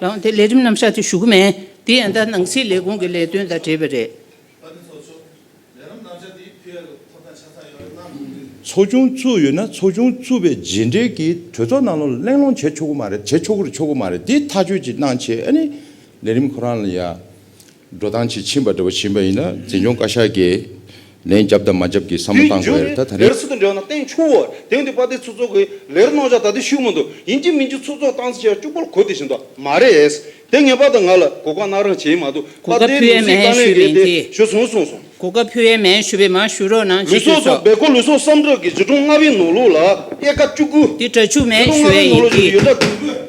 དེ་ལས་རིམ་རྣམ་གཞག་ཅིག་ཞུ་གི་མེད། དེ་ཡང་དག་སྣང་སྲིད་ལས་ཁུངས་ཀྱི་ལས་དོན་དང་འབྲེལ་བས་རེད། ཚོགས་ཆུང་བཙུགས་ཡོད་ན་ཚོགས་ཆུང་བཙུགས་པའི་རྗེས་འབྲེལ་གྱི་གྲོས་ཚོགས་ནང་ལོག་གླེང་སློང་བྱེད་ཆོག་གི་མ་རེད་བྱེད་ཆོག་གི་ཆོག་གི་མ་རེད་དེ་ཐག་གཅོད་ཅིག་གནང་ཆེད་ཨ་ནི་ལས་རིམ་ཁོ་རང་ལ་ཡ། འགྲོ་སྟངས་ཇི་བྱིན་པ་འདྲ་བོ་བྱིན་པ་ཡིན་ན་འཛིན་སྐྱོང་བཀའ་ཤག་གིས་ལན་བརྒྱབ་དང་མ་བརྒྱབ་ཀྱི་བསམ་བློ་བཏང་དགོས་རེད་ད་ད་རེས། ལེར་ཚུར་དུ་འབྲེལ་བ་ན་སྟེང་ཕྱོགས་འོག་དེང་དུས་དཔའ་སྡེ་ཚུ་ཚོགས་ཀྱིས་ལེར་གནང་བཞག་ད་དུས་ཤུགས་མི་འདུག་ཡིན་གྱི་མིན་གྱི་ཚུ་ཚོགས་སྟངས་ཆེར་བཅུག་པར་གོ་དེ་བཞིན་དུ་མ་རེད། དེ་ངེས་པར་དུ་ང་ལ་གོ་སྐབས་གནང་རང་བྱེད་མ་གཏོགས་གོ་དཔའ་སྐབས་སྡེའི་ཕུལ་ནང་བས་སྲིད་མ་བཀའ་ལན་ཞུས་པ་རེད་ཡིན་དེ་གྱིས། ཞུ་སོང་གསུངས་སོང། གོ་སྐབས་ཕུལ་བས་མ་ཞུས་པས་མ་ཞུ་རོགས་གནང་ལུས་ཅི་ཐུས་སོགས་སོགས། སྦེལ་ཀོབ་ལུས་སོགས་སམ་ཀྲོག་གི་གཞི་གྲོང་ལྔ་བའི་ནོར་ལུག་ལ་དབྱེ་ཀ་བཅུ་དགུ། དེ་དྲ་ཕྱུགས་མས་ཞུས་བས་ཡིན་གྱིས།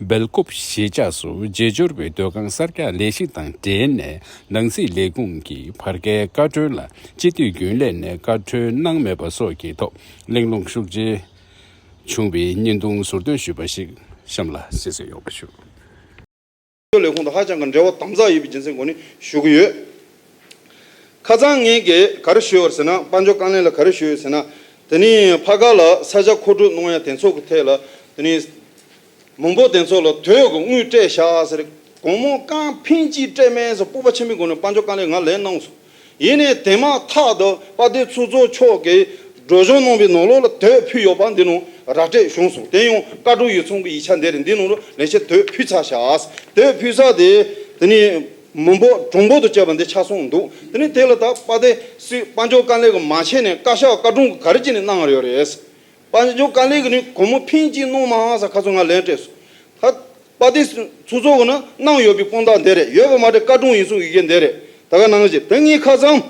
སྦེལ་ཀོབ་གཞིས་ཆགས་སུ་རྗེས་འབྱོར་བའི་སྡོད་ཁང་གསར་རྒྱག་ལས་གཞི་དང་འབྲེལ་ནས་ནང་སྲིད་ལས་ཁུངས་ཀྱི་བར་བརྒལ་བཀའ་འཁྲོལ་ལ་སྤྱི་འཐུས་རྒྱུན་ལས་ནས་བཀའ་འཁྲོལ་གནང་མེད་པ་སོགས་ཀྱི་ཐོག་གླེང་སློང་ཤུགས་ཆེ་བྱུང་བའི་བརྙན་ཐུང་ཟུར་འདོན་ཞུས་པ་ཞིག་གཤམ་ལ་གསལ་བསྩལ་ཡོང་བ་ཞུ། ཆོས་ལས་ཁུངས་དང་ཧ་ཅང་གི་འབྲེལ་བ་དམ་ཚགས་ཡོད་པའི་རྒྱུ་མཚན་སྒོ་ནས་ཞུ་གི་ཡོད། ཁ་ཚང་ངེད་ཀྱིས་ག་རེ་ཞུས་ཡོད་ཟེར་ན་དཔའ་འབྱོར་རྐང་གླིང་ལ་ག་རེ་ཞུས་ཡོད་ཟེར་ན་དེ་ནི་ཕ་ག་ལ་ས་ཆ་མཁོ་སྤྲོད་གནང་ཡ་དེ་ཚོ་གི་ཐད་ལ་དེ་ནི་མང་པོ་དེ་ཚོ་ལ་དོད་གི་དངུལ་སྤྲད་བཞག་ཟེར། དགོང་མོ་རྐང་འཕེན་གྱིས་སྤྲད་མེད་ཟེར་སྤོབས་པ་ཆེན་པོའི་སྒོ་ནས་དཔའ་འབྱོར་རྐང་གླིང་ང་ལས་གནང་སོང། ཡིན་ནས་དེ་མ་ཐག་ཏུ་དཔའ་སྡེ་ཚུལ་རྫོགས་མཆོག་གིས་སྒྲོལ་གཞུང་ནང་པའི་ནང་ལོགས་ལ་དོད་ཕུལ་ཡོད་པ་འདི་ནང་ར་སྤྲད་བྱུང་སོང་དེ་ཡང་བཀའ་དྲུང་ཡིག་ཚང་གི་ཡིག་ཆ་འདི་རེད་འདི་ནང་ལོགས་ལན་བཤད་དོད་ཕུལ་ཚར་ཤག་དོད་ཕུལ་ས་དེ་དེ་ནས་མི་འབོ་གྲོང་འབོ་དུ་བྱས་པ་འདི་ཆ་སོང་འདུག་དེ་ནས་དེ་ལ་དྭགས་དཔའ་སྡེ་སི་དཔའ་མཆོག་དཀའ་ལས་ཀྱི་མ་བྱས་ནས་བཀའ་ཤག་བཀའ་དྲུང་གི་ག་རེ་བྱས་ནས་གནང་ཡོད་རེད། པ་ནི་ཇོ་ཀ་ལེ་གི་ནི་གོར་མོ་ཕིན་གཅིག་གནོང་མ་ཧང་ས་ཁ་ཚོ་ང་ལན་སྤྲད་སོང། ད། པ་ཏི་སུ་ཚོ་གི་ནི་གནང་ཡོད་པའི་དཔང་རྟགས་འདི་རེད་ཡོད་པ་མ་བྲེ་ཀ་དྲུང་ཡིན་གསུང་ཡི་གེ་འདི་རེད་ད་ག་གནང་བཞིན་ད་ངའི་ཁ་ཚང།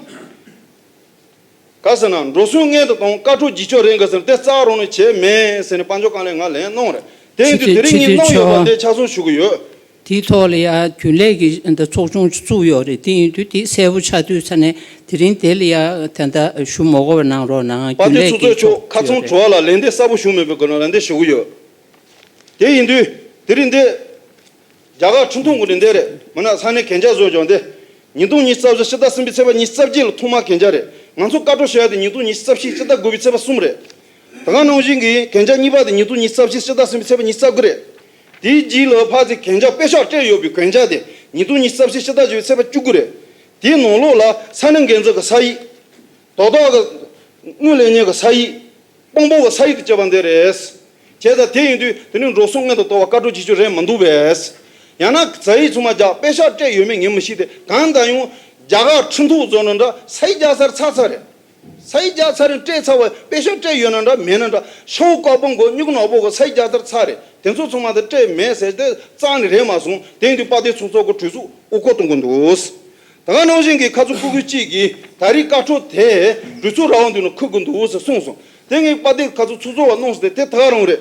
ག་ཟེར་ན་འགྲོ་སོང་མངལ་དུ་དང་དཀའ་ཁྲོ་བགྱིད་ཆོག་རེད་ག་ཟེར་ན་དེ་རྩ་རོགས་ནི་བྱས་མེད་ཟེར་ནས་པ་ཇོ་ཀ་ལེ་ང་ལན་གནང་རེད་དེ་ཡིན་དུས་དེ་རིང་ངའི་གནང་ཡོད་པ་འདི་ཆ་ཚང་ཞུ་གི་ཡོད། དེའི་ཐོག་ལ་ཡང་རྒྱུན་ལས་ཀྱི་ཚོགས་ཆུང་བཙུགས་ཡོད་རེད་དེ་ཡིན་དུས་དེ་གསལ་པོ་ཆགས་དུས་ཚར་ནས་དེ་རིང་དེ་ལ་ཡང་དེ་འདྲ་ཞུ་མོག་གོ་བ་གནང་རོགས་གནང་བ་རྒྱུན་དེ་ཚོ་ལས་ཀྱི་གཙོས་ཕྱོགས་ཁག་ཚོགས་ཆུང་ཡོད་རེད། གྲོགས་ལ་ལན་འདེབས་གསར་པོ་ཞུ་མེད་པའི་སྒོ་ནས་ལན་འདེབས་ཞུ་གི་ཡོད། དེ་ཡིན་དུས་དེ་རིང་འདི། རྒྱ་གར་ཁྲི་འཐུང་གི་རིན་དེ་རེད་མུན་ནག་ཚང་ནས་གན་རྒྱ་བཟོས་བྱུང་སྟེ། ཉིས་སྟོང་ཉིས་རྩ་བཞི་ཕྱི་ཟླ་གསུམ་པའི་ཚེས་པ་ཉིས་རྩ་བརྒྱད་ལ་ཐོག་མར་གན་རྒྱ་རེད་ང་ཚོ་བཀའ་འཁྲོལ་བྱས་དེ་ཉིས་སྟོང་ཉིས་རྩ་བཞི་ཕྱི་ཟླ་དགུ་པའི་ཚེས་པ་གསུམ་རེད། ད་གང་གནང་བཞིན་གི་ཡིན་གན་རྒྱ་གཉིས་པ་དེ་ཉིས་སྟོང་ཉིས་རྩ་བཞི་ཕྱི་ཟླ་གསུམ་པའི་ཚེས་པ་ཉིས་རྩ་དགུ་རེད། དེའི་རྗེས་ལོ་ཕག་ཚེ་གན་ཇག་པས་ཤག་སྤྲད་ཡོད་པའི་གན་ཇག་དེ་ཉིས་སྟོང་གཉིས་རྩ་བཞི་ཕྱི་ཟླ་བཅུ་བའི་ཚེས་པ་བཅུ་དགུ་རེད། དེའི་ནང་ལོགས་ལ་ས་གནས་འགན་འཛོལ་གྱི་ས་ཡིག། དོ་བདག་གི་དངུལ་ལེན་ཉེས་ཀྱི་ས་ཡིག། དཔང་པོ་གི་ས་ཡིག་ཏུ་བཅས་པ་འདི་རེད། བྱས་ཙང་དེ་ཡིན་དུས་དེ་ནི་འགྲོ་སོང་སྔོན་དུ་འདོར་བར་བཀའ་འཁྲོལ་བྱེད་ཕྱོགས་རེད་མི་འདུག་པས། ཡང་ན་ས་ཡིག་ཚུར་མ་རྒྱག་པས་ཤག་སྤྲད་ཡོད་མེད་ངས་མི་ཤེས་ཏེ་གང་ལྟར་ཡང། རྒྱ་གར་ཁྲི་འཐུང་བཟོ་གྲྭ་འདྲ་ས་ཡིག་རྒྱག་སར་ཚར་ཚར་རེད། ཚ་ཡི་རྒྱག་ཚ་རིང་སྤྲད་ཚ་བས་དཔེ་ཤོག་སྤྲད་ཡོད་ན་འདྲ་མེད་ན་འདྲ་ཤོག་བུ་ཀོག་པོ་མགོ་སྨྱུག་ནག་པོ་གོ་ཚ་ཡི་རྒྱག་དར་ཚ་རེད་དེ་ཚོ་ཚང་མ་དེ་སྤྲད་མེད་ཟེར་དེ་གཙང་ནི་རེད་མ་གསུངས་དེང་དུས་དཔའ་སྡེ་ཚོ་ཚོགས་གོ་གྲོས་ཚུགས་དབུ་ཁོག་གཏོང་གོ་འདུག་ད་ག་ནང་བཞིན་གི་ཁ་ཚུགས་སྤུ་གུ་གཅིག་གིས་ད་རིས་བཀའ་འཁྲོལ་དེ་འགྲུལ་ཚུགས་ར་བ་འདུས་ན་ཁུག་གོ་འདུག་ཟེར་གསུངས་སོང་དེང་གི་དཔའ་སྡེ་ཁ་ཚུགས་ཚུགས་ཚོགས་བ་གནོངས་ཟེར་དེ་ད་ག་རང་རེད།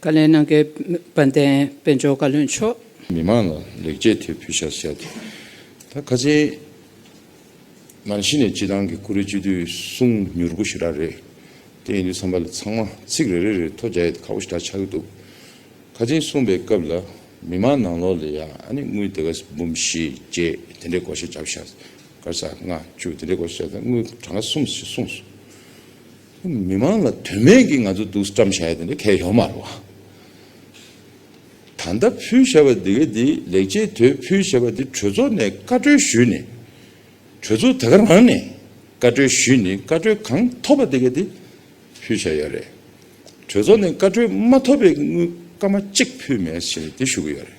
བཀའ་ལན་གནང་མཁན་དཔལ་ལྡན་དཔལ་འབྱོར་བཀའ་བློན་མཆོག། མི་མང་ལ་ལེགས་སྐྱེས་དེ་ཕུལ་བྱར་བྱས་ཏེ། ད་ཁ་ཆེའི་ནང་གཞི་ནས་སྤྱི་བཏང་གི་ཀུ་རེ་བཅུད་དུས་གསུམ་མྱུར་པོ་ཞིག་རག་རེད། དེ་ཡིན་དུས་བསམ་པ་ལ་ཚང་མ་ཚིག་རེ་རེ་རེར་ཐོ་རྒྱ་ཡས་ཁ་བོ་ཞིག་གྲགས་ཆགས་ཀྱི་འདུག་ཁ་ཆེའི་གསུངས་པའི་སྐབས་ལ་མི་མང་ནང་ལོགས་ལ་ཡང་ཨ་ནི་དངུལ་དེ་ག་འབུམ་བཞི་བརྒྱད་དེ་འདྲའི་སྒོར་གཞས་རྒྱག་བྱས། སྐར་ཆ་ལྔ་བཅུ་དེ་འདྲའི་སྒོར་གཞས་རྒྱག་བྱས་ན་དངུལ་གྲངས་ག་གསུམ་ཞིག་གསུངས་སོང། མི་མང་ལ་དོན་མེད་ཀྱི་ང་ཚོ་སྡུག་བཀྲམ་བཞག་ཡོད་དེ་འདྲ་གལ་ཡོད་མ་རེད་བ། ད་མདའ་ཕུལ་བྱ་བ་དེ་ག་དེ་ལེགས་ཆེད་དོད་ཕུལ་བྱ་བ་དེ་གྲོས་ཚོགས་ནས་བཀའ་གྲོས་ཞུས་ནས་གྲོས་ཚོགས་དེ་ག་རང་ནས་བཀའ་གྲོས་ཞུས་ནས་བཀའ་གྲོས་གང་ཐོབ་པ་དེ་ག་དེ་ཕུལ་བྱ་ཡོད་རེད། གྲོས་ཚོགས་ནས་བཀའ་གྲོས་མ་ཐོབ་པའི་དངུལ་སྐར་མ་གཅིག་ཕུལ་མེད་ཞེས་དེ་ཞུ་གི་ཡོད་རེད།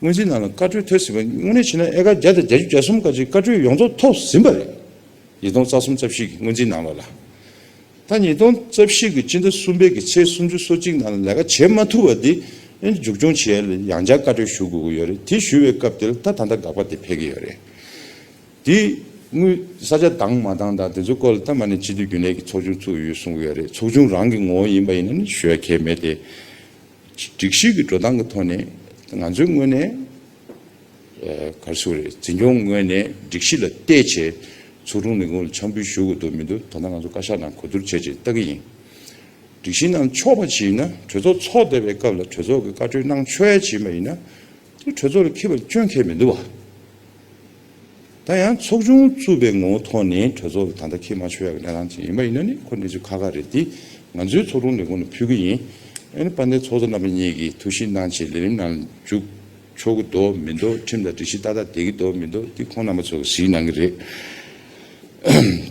སྔོན་ཚེ་ནང་ལ་བཀའ་ཁྲོལ་ཐོས་ཟིན་པ་དངོས་གནས་ཕྱི་ནང་ཨེ་ཀ་བརྒྱ་དང་གྱ་བཅུ་གྱ་གསུམ་ཀ་ཅིག་བཀའ་ཁྲོལ་ཡོངས་རྫོགས་ཐོབ་ཟིན་པ་རེད། ཉིས་སྟོང་རྩ་གསུམ་རྩ་བཞི་གི་སྔོན་ཚེ་ནང་ལ་ལ། ད་ཉིས་སྟོང་རྩ་བཞི་གི་སྤྱི་ཟླ་གསུམ་པའི་གི་ཚེས་སུམ་ཅུ་སོ་གཅིག་ནང་ལ་ལས་ཀ་བྱེད་མ་ཐུབ་པ་དེ་མཇུག་སྐྱོང་བྱེད་ཡ་ལ་ཡང་བསྐྱར་བཀའ་ཁྲོལ་ཞུ་དགོས་ཀྱི་ཡོད་རེད་དེ་ཞུ་བའི་སྐབས་དེ་ལ་ད་ད་ལྟ་དགག་པ་དེ་འཕེལ་གྱི་ཡོད་རེད། དེ་དངུལ་ས་ཆ་འདང་མ་འདང་དང་དེ་ཚོའི་སྐོར་ལ་ད་མ་ནས་སྤྱི་འཐུས་རྒྱུན་ལས་ཀྱི་ཚོགས་ཆུང་ཚུགས་ཡོད་གསུངས་ཀྱི་ཡོད་རེད་ཚོགས་ཆུང་རང་གི་ངོ་བོ་ཡིན་པ་ཡིན་ན་ནི་ཞུ་ཡ་གལ་མེད་དེ། སྒྲིག་གཞི་གི་འགྲོ་སྟངས་ཀྱི་ཐོག་ནས་ང་ཚོའི་ངོས་ནས་གར་སོང་རེད་འཛིན་སྐྱོང་ངོས་ནས་སྒྲིག་གཞི་ལ་བལྟས་ཆེད་ཚོགས་དྲུང་ལས་ཁུངས་ལ་འཆམ་འབུལ་ཞུ་དགོས་དོན་མི་འདུག་ད་ལྟ་ང་ཚོ་བཀའ་ཤག་ནང་གོ་བསྡུར་བྱས་རྗེས་ལྟ་གི་ཡིན། སྒྲིག་གཞི་གནང་ཆོག་པ་ཞིག་ཡིན་ན་གྲོས་ཚོགས་ཚོགས་བསྡད་པའི་སྐབས་ལ་གྲོས་ཚོགས་ཀྱི་བཀའ་འཁྲོལ་གནང་ཆོལ་ཞིག་ཡིན་པ་ཡིན་ན་དེ་གྲོས་ཚོགས་ལ་འཁེལ་བ་སྐྱོན་འཁེལ་མི་འདུག་བ། ད་ཡང་ཚོགས་ཆུང་བཙུགས་པའི་ངོ་བོ་ཐོག་ནས་གྲོས་ཚོགས་ཀྱི་ད་ལྟ་ཁེ་མ་ཆོད་ཡག་གི་གནས་སྟངས་ཅིག་ཡིན་པ་ཡིན་ན་ནི་ཁོ་གནས་ཚུལ་ཁ་ཁ་རེད་དེ། ང་ཚོའི་ཚོགས་དྲུང་ལས་ཁུངས་ནས་ཕུལ་གྱི་ཡིན། ཨ་ནི་དཔལ་ལྡན་ཚོགས་གཙོ་རྣམ་པ་གཉིས་ཀྱིས་ཐུགས་ཞིབ་གནང་ཆེད་ལས་རིམ་ནང་འཇུག་ཆོག་གི་འདོ་མི་འདོ་ཁྲིམས་དང་སྒྲིག་གཞི་ཏག་ཏག་བསྡད་ཀྱི་འདོ་མི་འདོ་དེ་ཁོང་རྣམ་པ་ཚོ་གཟིགས་གནང་གི་རེད་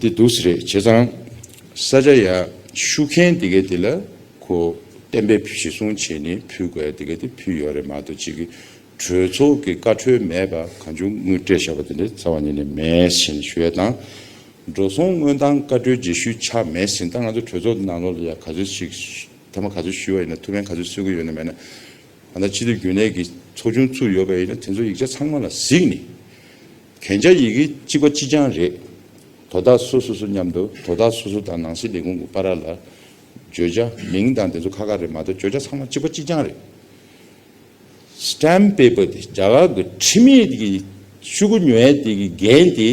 དེ་འདུག་ཟེར་རེད་བྱས་ཙང། ས་ཆ་ཡག་ཤུགས་མཁན་དེ་གས་དེ་ལ་ཁོ་གཏན་འབེབས་བཞེས་སྲུང་བྱས་ནས་ཕུལ་དགོས་ཡ་དེ་གས་དེ་ཕུལ་ཡོད་རེད་མ་གཏོགས་གཅིག་གིས་གྲོས་ཚོགས་ཀྱི་བཀའ་འཁྲོལ་མེད་པར་གང་བྱུང་དངུལ་སྤྲད་བཞག་པ་དེ་འདྲའི་རྩ་བ་ཉིད་ནས་མེད་ཞེས་ཞུ་ཡས་དང། འགྲོ་སོང་དངོས་དང་བཀའ་འཁྲོལ་རྗེས་ཤུལ་ཆ་མེད་ཟིན་ད་ང་ཚོ་གྲོས་ཚོགས་ནང་ལོག་ལ་ཡང་ག་ཚོད་ཞིག་མཐའ་མ་ག་ཚོད་ཞུ་བ་ཡིན་ན་ཐུགས་ཕན་ག་ཚོད་གསོས་ཀྱི་ཡོད་ན་མེད་ན། ད་ལྟ་ཕྱི་སྡོད་རྒྱུན་ལས་ཀྱི་ཚོགས་ཆུང་ཚུགས་ཡོད་པ་ཡིན་ན་དེ་ཚོ་ཡིག་ཆ་ཚང་མ་ལ་གཟིགས་ནས། གན་རྒྱ་ཡི་གེ་གཅིག་པ་ཅི་ཅང་རེད། དོ་བདག་སོ་སོ་སོ་སྙམ་དུ་དོ་བདག་སོ་སོ་དང་ནང་སྲིད་ལས་ཁུངས་ཀྱི་པ་ར་ལ། བརྗོད་བྱ་མིང་དང་དེ་ཚོ་ཁ་ཁ་རེད་མ་གཏོགས་བརྗོད་བྱ་ཚང་མ་གཅིག་པ་གཅིག་ཅང་རེད། Stamp Paper། དེ་རྒྱ་གར་གྱི་ཁྲིམས་ཡིག་གི་ཤུགས་རྐྱེན་ཉུང་བས་དེ་གི་འགན་དེ་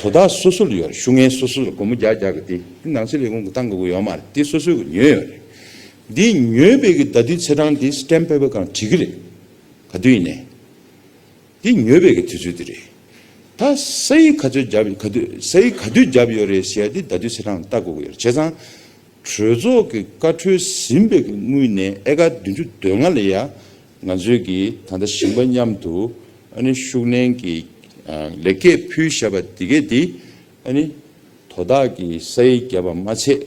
དོ་བདག་སོ་སོ་ལ་ཡོད་རེད་ཤུགས་ངན་སོ་སོ་ལ་སྒོར་མོ་རྒྱག་རྒྱག་གི་དེ་དེ་ནང་སྲིད་ལས་ཁུངས་ཀྱི་ཏང་གི་དབུ་ཡོད་མ་རེད་དེ་སོ་སོས་གི་ཉོས་ཡོད་རེད། དེ་ཉོས་པའི་གི་ད་དུས་ཚེས་གྲངས་དེ Stamp Paper གང་བྲིས་གི་རེད། ག་དུས་ཡིན་ནའི། དེ་ཉོས་པའི་གི་དུས་ཚོད་དེ་རེད། ད་ས་ཡིག་ག་ཚོད་བརྒྱབ་ཡོད་ག་དུས་ས་ཡིག་ག་དུས་བརྒྱབ་ཡོད་རེད་ཟེར་ཡ་དེ་ད་དུས་ཚེས་གྲངས་ལྟ་དགོས་གི་ཡོད་རེད་བྱས་ཙང། གྲོས་ཚོགས་ཀྱི་བཀའ་འཁྲོལ་ཟིན་པའི་སྔུན་ནས་ཨེ་ཀ་བདུན་ཅུ་དོན་ལྔ་ལ་ཡང་ང་ཚོས་ཀྱིས་ད་ལྟ་ཞིང་པ་མཉམ་དུ་ཤུགས་ལེན་གྱི་ལེགས་སྐྱེས་ཕུལ་བཞག་པ་འདི་གས་འདི་དོ་བདག་གི་ས་ཡི་རྒྱབ་པ་མ་ཆད་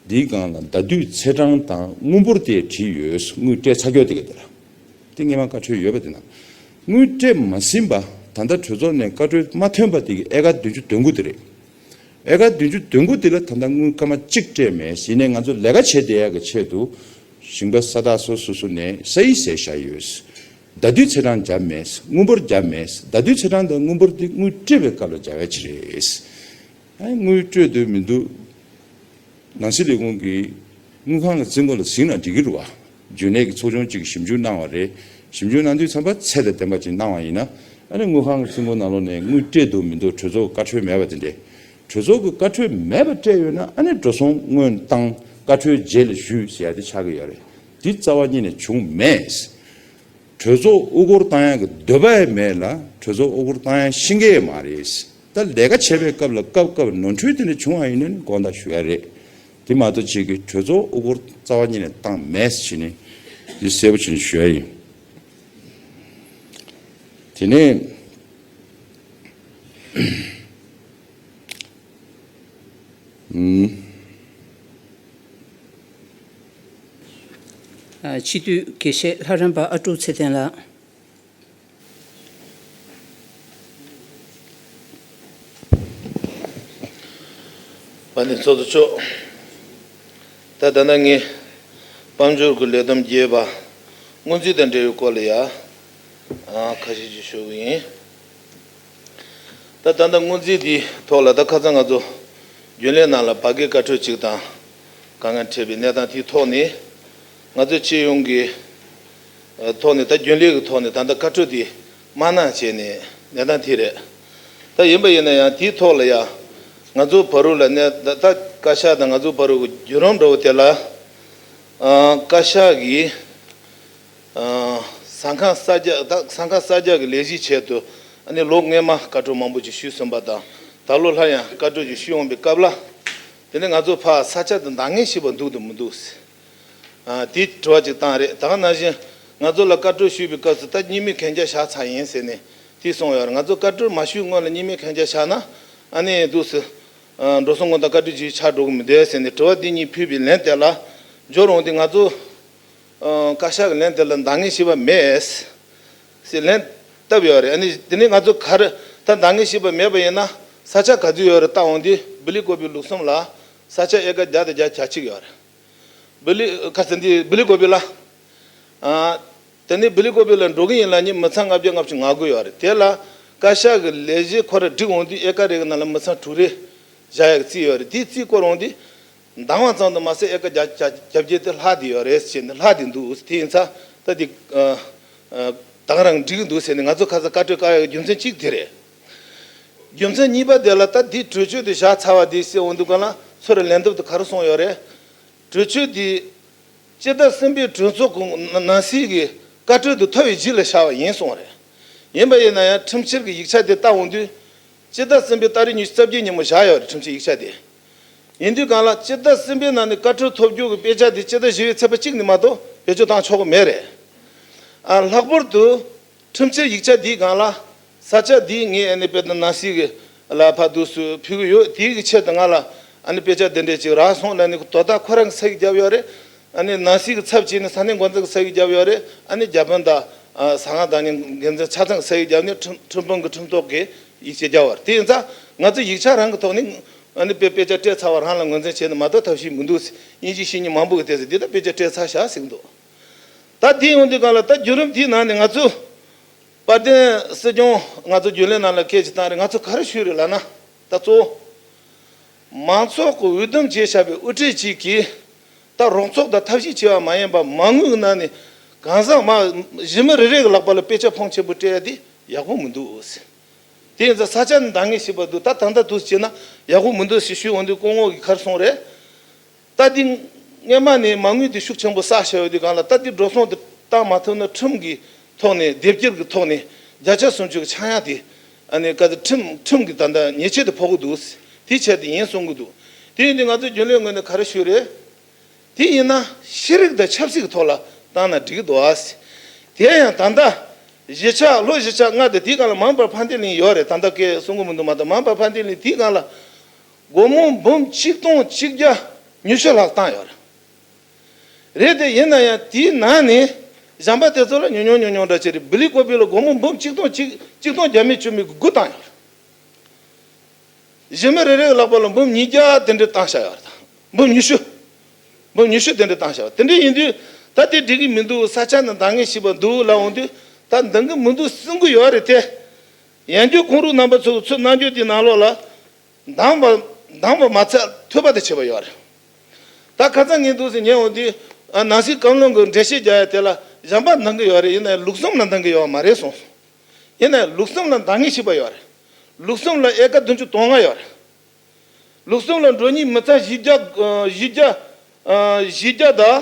འདིའི་སྒང་ལ་ཟླ་དུས་ཚེས་གྲངས་དང་དངུལ་འབོར་དེ་བྲིས་ཡོད་དངུལ་སྤྲད་ཚ་ཁྱོ་དེ་གས་འདི་ལ་དེ་སྔས་མ་བཀའ་འཁྲོལ་ཡོད་པ་དེ་ན་དངུལ་སྤྲད་མ་ཟིན་པ་ད་ལྟ་གྲོས་ཚོགས་ནས་བཀའ་འཁྲོལ་མ་ཐོན་པ་དེ་གས་ཨེ་ཀ་བདུན་ཅུ་དོན་དགུ་དེ་རེད། ཨེ་ཀ་བདུན་ཅུ་དོན་དགུ་འདི་ལ་ད་ལྟ་དངུལ་སྐར་མ་གཅིག་སྤྲད་མེད་གཞི་ནས་ང་ཚོ་ལས་ཀ་བྱེད་བསྡད་ཡག་གི་ཆེད་དུ་ཞིང་པ་ས་བདག་སོ་སོ་སོ་ནས་ས་ཡིག་ཟེར་བཞག་ཡོད། ཟླ་དུས་ཚེས་གྲངས་བརྒྱབ་མེད་དངུལ་འབོར་བརྒྱབ་མེད་ཟླ་དུས་ཚེས་གྲངས་དང་དངུལ་འབོར་འདི་དངུལ་སྤྲད་པའི་སྐབས་ལ་སྦྱར་བའི་ཆེད་རེད། དངུལ་སྤྲོད་འདོད་མི་འདུག་ནང་སྲིད་ལས་ཁུངས་ཀྱི་དངུལ་ཁང་གི་རྩིས་འགོ་ལ་གཟིགས་ན་འགྲིག་གི་རུ་བ། རྒྱུན་ལས་ཀྱི་ཚོགས་ཆུང་གཅིག་གིས་ཞིབ་འཇུག་གནང་བ་རེད། ཞིབ་འཇུག་གནང་དུས་ཚན་པ་ཚད་དང་ལྡན་པ་ཅིག་གནང་བ་ཡིན་ན། ཨ་ནི་དངུལ་ཁང་གི་སྲིང་མོ་ནང་ལོགས་ནས་དངུལ་སྤྲད་འདུག་མི་འདུག་གྲོས་ཚོགས་ཀྱི་བཀའ་འཁྲོལ་མེད་པ་དེ་འདྲས། གྲོས་ཚོགས་ཀྱི་བཀའ་འཁྲོལ་མེད་པར་སྤྲད་ཡོད་ན་ཨ་ནི་འགྲོ་སོང་དངོས་བཏང་བཀའ་འཁྲོལ་རྗེས་ལ་ཞུས་ཟེར་ཡ་དེ་ཆགས་ཀྱི་ཡོད་རེད། འདི་རྩ་བ་གཉིས་ནས་བྱུང་མེད། གྲོས་ཚོགས་དབུ་སྐོར་བཏང་ཡ་གི་འདོད་པ་ཡེ་མེད་ལ་གྲོས་ཚོགས་དབུ་སྐོར་བཏང་ཡ་ཤེས་ཀྱི་ཡེ་མ་རེད། ད་ལས་ཀ་བྱེད་པའི་སྐབས་ལ་སྐབས་སྐབས་ནོར་འཁྲུལ་དེ་འདྲ་བྱུང་བ་ཡིན་ནོ་ནི་དགོངས་དག་ཞུ་ཡ་རེད། དེ་མ་གཏོགས་བཅས་ཀྱི་གྲོས་ཚོགས་དབུ་སྐོར་རྩ་བ་ཉིད་ནས་བཏང་མེད་ཅེས་ནི་འདི་གསལ་པོ་བྱས་ནས་ཞུ་ཡ་ཡིན། དེ་ནས། སྤྱི་འཐུས་དགེ་བཤེས་ལྷ་རམས་པ་ཨ་ཀྲུག་ཚེ་བརྟན་ལགས། བ་ནི་ཚོགས་གཙོ་མཆོག། ད་ལྟ་ན་ངས་དཔལ་འབྱོར་གྱི་ལས་དམ་བརྒྱད་པ་སྔོན་རྩིས་དང་འབྲེལ་བའི་སྐོར་ལ་ཡང་ཁ་ཤས་ཤིག་ཤོད་གི་ཡིན། ད་ལྟ་ན་སྔོན་རྩིས་དེའི་ཐོག་ལ་ད་ཁ་ཚང་ང་ཚོ་རྒྱུན་ལས་ནང་ལ་བ་གའི་བཀའ་འཁྲོལ་ཅིག་དང་དཀའ་ངལ་འཕྲད་པའི་གནས་སྟངས་དེའི་ཐོག་ནས་ང་ཚོས་སྤྱི་ཡོངས་ཀྱི། ཐོག་ནས་ད་རྒྱུན་ལས་ཀྱི་ཐོག་ནས་ད་ལྟ་བཀའ་ཁྲོལ་འདི་མ་གནང་བྱས་ནས་གནས་སྟངས་དེ་རེད། ད་ཡིན་པ་ཡིན་ན་ཡང་དེའི་ཐོག་ལ་ཡང་ང་ཚོ་བ་རུ་ལ་གནས་ད་ལྟ་བཀའ་ཤག་དང་ང་ཚོ་བ་རུ་གི་རྒྱུན་རོང་འདྲ་བོ་དེ་ལ་བཀའ་ཤག་གིས་ཟ་ཁང་གསར་རྒྱག་ད་ཟ་ཁང་གསར་རྒྱག་གི་ལས་གཞི་ཆེད་དུ་ཨ་ནི་ལོ་སྔོན་མ་བཀའ་ཁྲོལ་མང་པོ་ཅིག་ཞུས་ཟིན་པ་དང་ད་ལོ་སླར་ཡང་བཀའ་ཁྲོལ་ཅིག་ཞུས་འོང་པའི་སྐབས་ལ་དེ་ནི་ང་ཚོ་བ་ས་ཆ་དེ་འདང་ངེས་ཤིག་བ་འདུག་ཏུ་མི་འདུག། དེའི་དྲི་བ་ཅིག་བཏང་རེད་དང་ན་བཞིན་ང་ཚོ་ལ་བཀའ་གྲོས་ཞུས་པའི་སྐབས་སུ་ད་གཉིས་མེད་གན་རྒྱ་བཞག་ཚར་ཡིན་ཟེར་ནས་དེ་གསུངས་ཡོད་རེད་ང་ཚོ་བཀའ་གྲོས་མ་ཞུས་སྔོན་ལ་གཉིས་མེད་གན་རྒྱ་བཞག་ན་ཨ་ནེ་འདུག་ཟེར། འགྲོ་སོང་ངོ་དང་བཀའ་ཁྲི་བྱེད་ཆགས་འགྲོ་གི་མི་འདུག་ཟེར་ནས་དྲི་བ་འདི་གཉིས་ཕུལ་བའི་ལན་དེ་ལ་འཇོག་རུང་དེ་ང་ཚོ་བཀའ་ཤག་གི་ལན་དེ་ལ་འདང་ངེས་ཤེས་པ་མེད། ཟེར་ལན་བཏབ་ཡོད་རེད་ཨ་ནེ་དེ་ནས་ང་ཚོ་གར་ད་འདང་ངེས་ཤེས་པ་མེད་པ་ཡིན་ན་ས་ཆ་ག་ཚོད་ཡོད་རེད་བལྟ་འོང་དེ་སྦི་ལི་བསྐོར་བའི་ལུགས་སམ་ལ་ས་ཆ་ཨེ་ཀ་བརྒྱ་དང་བརྒྱ་གྱ་གཅིག་ཡོད་རེད། བི་ལི། ཁ་ཟེར་འདི་བི་ལི་ཀོ་བི་ལ། དེ་ནས་བི་ལི་ཀོ་བི་ལ་འགྲོ་གི་ཡིན་ལ་ནི་མི་ཚང་ལྔ་བརྒྱ་ལྔ་བཅུ་ང་དགུ་ཡོད་རེད་དེ་ལ་བཀའ་ཤག་གི་ལས་བྱེད་ཁོ་ར་བསྒྲིགས་འོང་དུས་ཨེ་ཀ་རེ་གི་ནང་ལ་མི་ཚང་དྲུག་རེ། བཞག་ཡག་གི་རྩིས་ཡོད་རེད་དེའི་རྩིས་བསྐོར་འོང་དུས། འདང་བ་ཙམ་དུ་མ་ཟད་ཨེ་ཀ་བརྒྱ་གྱ་གྱ་བརྒྱད་དེ་ལྷག་དེ་ཡོད་རེད་ཟེར་ནས་ལྷག་དེ་འདུག་དེ་ཡིན་ཚ་ད་དེ། དང་རང་བསྒྲིགས་གི་འདུག་ཟེར་ནས་ང་ཚོ་ཁ་ས་བཀའ་ཁྲོལ་བཀའ་ཡག་གི་རྒྱུ་མཚན་གཅིག་དེ་རེད། རྒྱུ་མཚན་གཉིས་པ་དེ་ལ་ད་དེའི་གྲོས་ཆོད་དེ་བཞག་ཚར་བ་དེའི་སྲིད་འོང་འདུག་ག་ལ་ཚོ་རེ་ལན་འདེབས་དུ་ག་རུ་སོང་ཡོད་རེད། གྲོས་ཆོད་དེ། སྤྱི་ཟླ་གསུམ་པའི་གྲོས་ཚོགས་ཀྱི་ནང་སྲིད་ཀྱི་བཀའ་ཁྲོལ་དུ་ཐོ་བའི་རྗེས་ལ་བཞག་པ་ཡིན་གསུངས་བ་རེད། ཡིན་པ་ཡིན་ན་ཡང་ཁྲིམས་ཕྱིར་གྱི་ཡིག་ཆ་དེ་བཏང་འོང་དུས། སྤྱི་ཟླ་གསུམ་པའི་ཏཱ་རེ་ཉི་ཤུ་རྩ་བརྒྱད་ཉིན་མོ་བཞག་ཡོད་རེད་ཁྲིམས་ཕྱིར་ཡིག་ཆ་དེ། ཡིན་དུས་གང་ལགས་སྤྱི་ཟླ་གསུམ་པའི་ནང་ནས་བཀའ་ཁྲོལ་ཐོ་བསྒྱུར་གྱི་དཔེ་ཆ་དེ་སྤྱི་ཟླ་བཞི་བའི་ཚེས་པ་གཅིག་ནས་མ་གཏོགས་བེད་སྤྱོད་བཏང་ཆོག་གི་མེད་རེད། ལྷག་པར་དུ། ཁྲིམས་ཆད་ཡིག་ཆ་འདིའི་སྒང་ལ། ས་ཆ་འདིའི་ངས་ཨ་ནི་བེ་ཏི་ནཱ་སི་གི་ལ་ཕ་སྡུག་སུ་ཕུལ་གི་ཡོད་དེའི་གི་ཆེད་དུ་ང་ལ་ཨ་ནི་དཔེ་ཆ་འདི་འདྲས་ཅིག་རག་སོང་ཨ་ནི་དོ་བདག་ཁོ་རང་གི་ས་གི་རྒྱབ་ཡོད་རེད་ཨ་ནི་ནཱ་སི་གི་ཚབ་བྱས་ནས་ས་གནས་འགོ་འཛིན་གི་ས་གི་རྒྱབ་ཡོད་རེད་ཨ་ནི་རྒྱ་དཔོན་དང་ཟ་ང་དང་ནི་འགན་འཛིན་ཆ་ཚང་གི་ས་གི་རྒྱབ་ནས་ཁྲིམས་ཁྲིམས་དཔོན་གི་ཁྲིམས་ཐོག་གི་ཡིག་ཆ་རྒྱབ་བར་དེ་ཡིན་ཙང་ང་ཚོ་ཡིག་ཆ་རང་གི་ཐོག་ནས་ཨ་ནི་དཔེ་དཔེ་ཆ་སྤྲད་ཚར་བ་རང་ལ་ངོས་འཛིན་བྱས་ནས་མ་གཏོགས་ཐབས་ཤེས་མི་འདུག་སྙིང་རྗེ་བཤེས་གཉེན་མང་པོ་གི་ལྟས་ཟེར་འདི་ལྟར་དཔེ་ཆ་སྤྲད་ཚར་ཤག་ཟིག་འདུག། ད་དེའི་འོས་བསྡུའི་སྒང་ལ་ད་བརྒྱུད་རིམ་དེའི་ནང་ནས་ང་ཚོས། དཔལ་ལྡན་སྲིད་སྐྱོང་ང་ཚོ་རྒྱུན་ལས་ནང་ལ་སྐད་ཅིག་བཏང་རེས་ང་ཚོ་ག་རེ་ཞུས་རེས་ལགས་ན། ད་གཙོ་བོ། མང་ཚོགས་ཀྱི་འོས་བསྡུ་བྱས་བཞག་པའི་དབུ་ཁྲིད་ཅིག་གིས། ད་རོགས་ཚོགས་དང་ཐབས་ཤེས་བྱས་པ་མ་ཡིན་པར་མ་དངུལ་གི་ནང་ནས་གང་བཟང་མ། གཞི་མི་རེ་རེ་གི་ལག་པ་ལ་དཔེ་ཆ་ཕོངས་ཆེན་པོ་སྤྲད་དེ་ཡག་པོ་མི་འདུག། དེ་ཡིན་ཙང་ས་ཆ་ནི་འདང་ངེས་ཞིག་པར་འདུག་ད་ད་ལྟ་དུས་སུ་བྱས་ན་ཡག་པོ་མི་འདུག་ཞེས་ཞུས་འོས་བསྡུའི་སྐུ་ངོ་གིས་ཁར་སོང་རེས། རྟ་རྡི། སྔོན་མ་ནས་མ་དངུལ་དེ་ཤུགས་ཆེན་པོ་བསགས་བཞག་ཡོད་དུས་གང་ལ་རྟ་རྡི་འགྲོ་སོང་དེ་བཏང་མ་ཐུབ་ན་ཁྲིམས་ཀྱི་ཐོག་ནས་སྡེབ་སྐྱེལ་གྱི་ཐོག་ནས་བརྒྱ་ཆ་སུམ་ཅུ་གྱི་ཆག་ཡང་དེ་ནས་ག་ཚོད་ཁྲིམས་ཀྱི་ད་ལྟ་ཉེས་ཆད་དེ་ཕོག་གི་འདུག་དེ་ཆད་དེ་ཡིན་གསུང་གི་འདུག་དེ་ཡིན་དུས་ང་ཚོ་རྒྱུན་ལས་ངོས་ནས་ག་རེ་ཞུ་རེད། དེ་ཡིན་ན་ཤེས་རིག་དང་ཆབ་སྲིད་ཀྱི་ཐོག་ལ་བཏང་ན་འགྲིག་གི་འདུག་དེ་ཡང་ད་ལྟ་གཞིས་ཆགས་ལོ་གཞིས་ཆགས་ལྔ་དེ་དེའི་གང་ལ་མང་བར་ཕ་འདེ་གླིང་ཡོད་རེད་ད་ལྟ་ཀའི་གསུང་གི་མི་འདུག་མ་གཏོགས་མང་བར་ཕ་འདེ་གླིང་དེའི་གང་ལ་སྒོར་མོ་འབུམ་གཅིག་སྟོང་གཅིག་བརྒྱ་ཉུས་ཤོས་ལྷག་བཏང་ཡོད་རེད། རེད་དེ་ཡིན་ན་ཡང་དེའི་ནང་ནས་གཞམ་པ་དེ་ཚོ་ལ་ཉུང་ཉུང་ཉུང་ཉུང་འདྲ་བྱས་རེད་བི་ལི་ཀོ་བི་ལ་སྒོར་མོ་འབུམ་གཅིག་སྟོང་གཅིག་གཅིག་སྟོང་བརྒྱ་མི་བཅུ་མི་དགུ་བཏང་ཡོད་རེད། གཞན་མི་རེ་རེ་གི་ལག་པ་ལ་འབུམ་ཉིས་བརྒྱ་དེ་འདྲས་བཏང་བཞག་ཡོད་རེད་དང་འབུམ་ཉི་ཤུ་འབུམ་ཉི་ཤུ་དེ་འདྲས་བཏང་བཞག་ཡོད་དེ་འདྲས་ཡིན་དུས་ད་དེ་འགྲིག་གི་མི་འདུག་ས་ཆ་ནི་འདང་ངེས་ཞིག་པ་འདུག་ལ་འོང་དུས་ད་འདང་གི་མི་འདུག་སེམས་གི་ཡོད་རེད་དེ། ཡང་རྒྱུ་ཁོང་རུག་རྣམ་པ་ཚོ་གི་ཚུར་གནང་རྒྱུ་དེའི་ནང་ལོགས་ལ། མདང་བ། མདང་བ་མ་ཚད་ཐོད་པ་དེ་བྱེད་པ་ཡོད་རེད། ད་ཁ་ཚ་ངན་འདུག་ཟེར་ཉན་འོང་དུས། ནང་སྲིད་སྐམ་ལོང་གི་འགྲེལ་བཤད་རྒྱག་ཡ་དེ་ལ་གཞན་པ་འདང་གི་ཡོད་རེད་ཡིན་ནའི་ལུགས་བསམ་ལ་འདང་གི་ཡོད་མ་རེད་གསུངས་སོང། ཡིན་ནའི་ལུགས་བསམ་ལ་འདང་ངེས་ཤིག་པ་ཡོད་རེད། ལུགས་བསམ་ལ་ཨེ་ཀ་བདུན་ཅུ་དོང་ལྔ་ཡོད་རེད། ལུགས་བསམ་ལ་འགྲོ་གཉིས་མི་ཚ་བཞི་བརྒྱ་བཞི་བརྒྱ་བཞི་བརྒྱ་དང་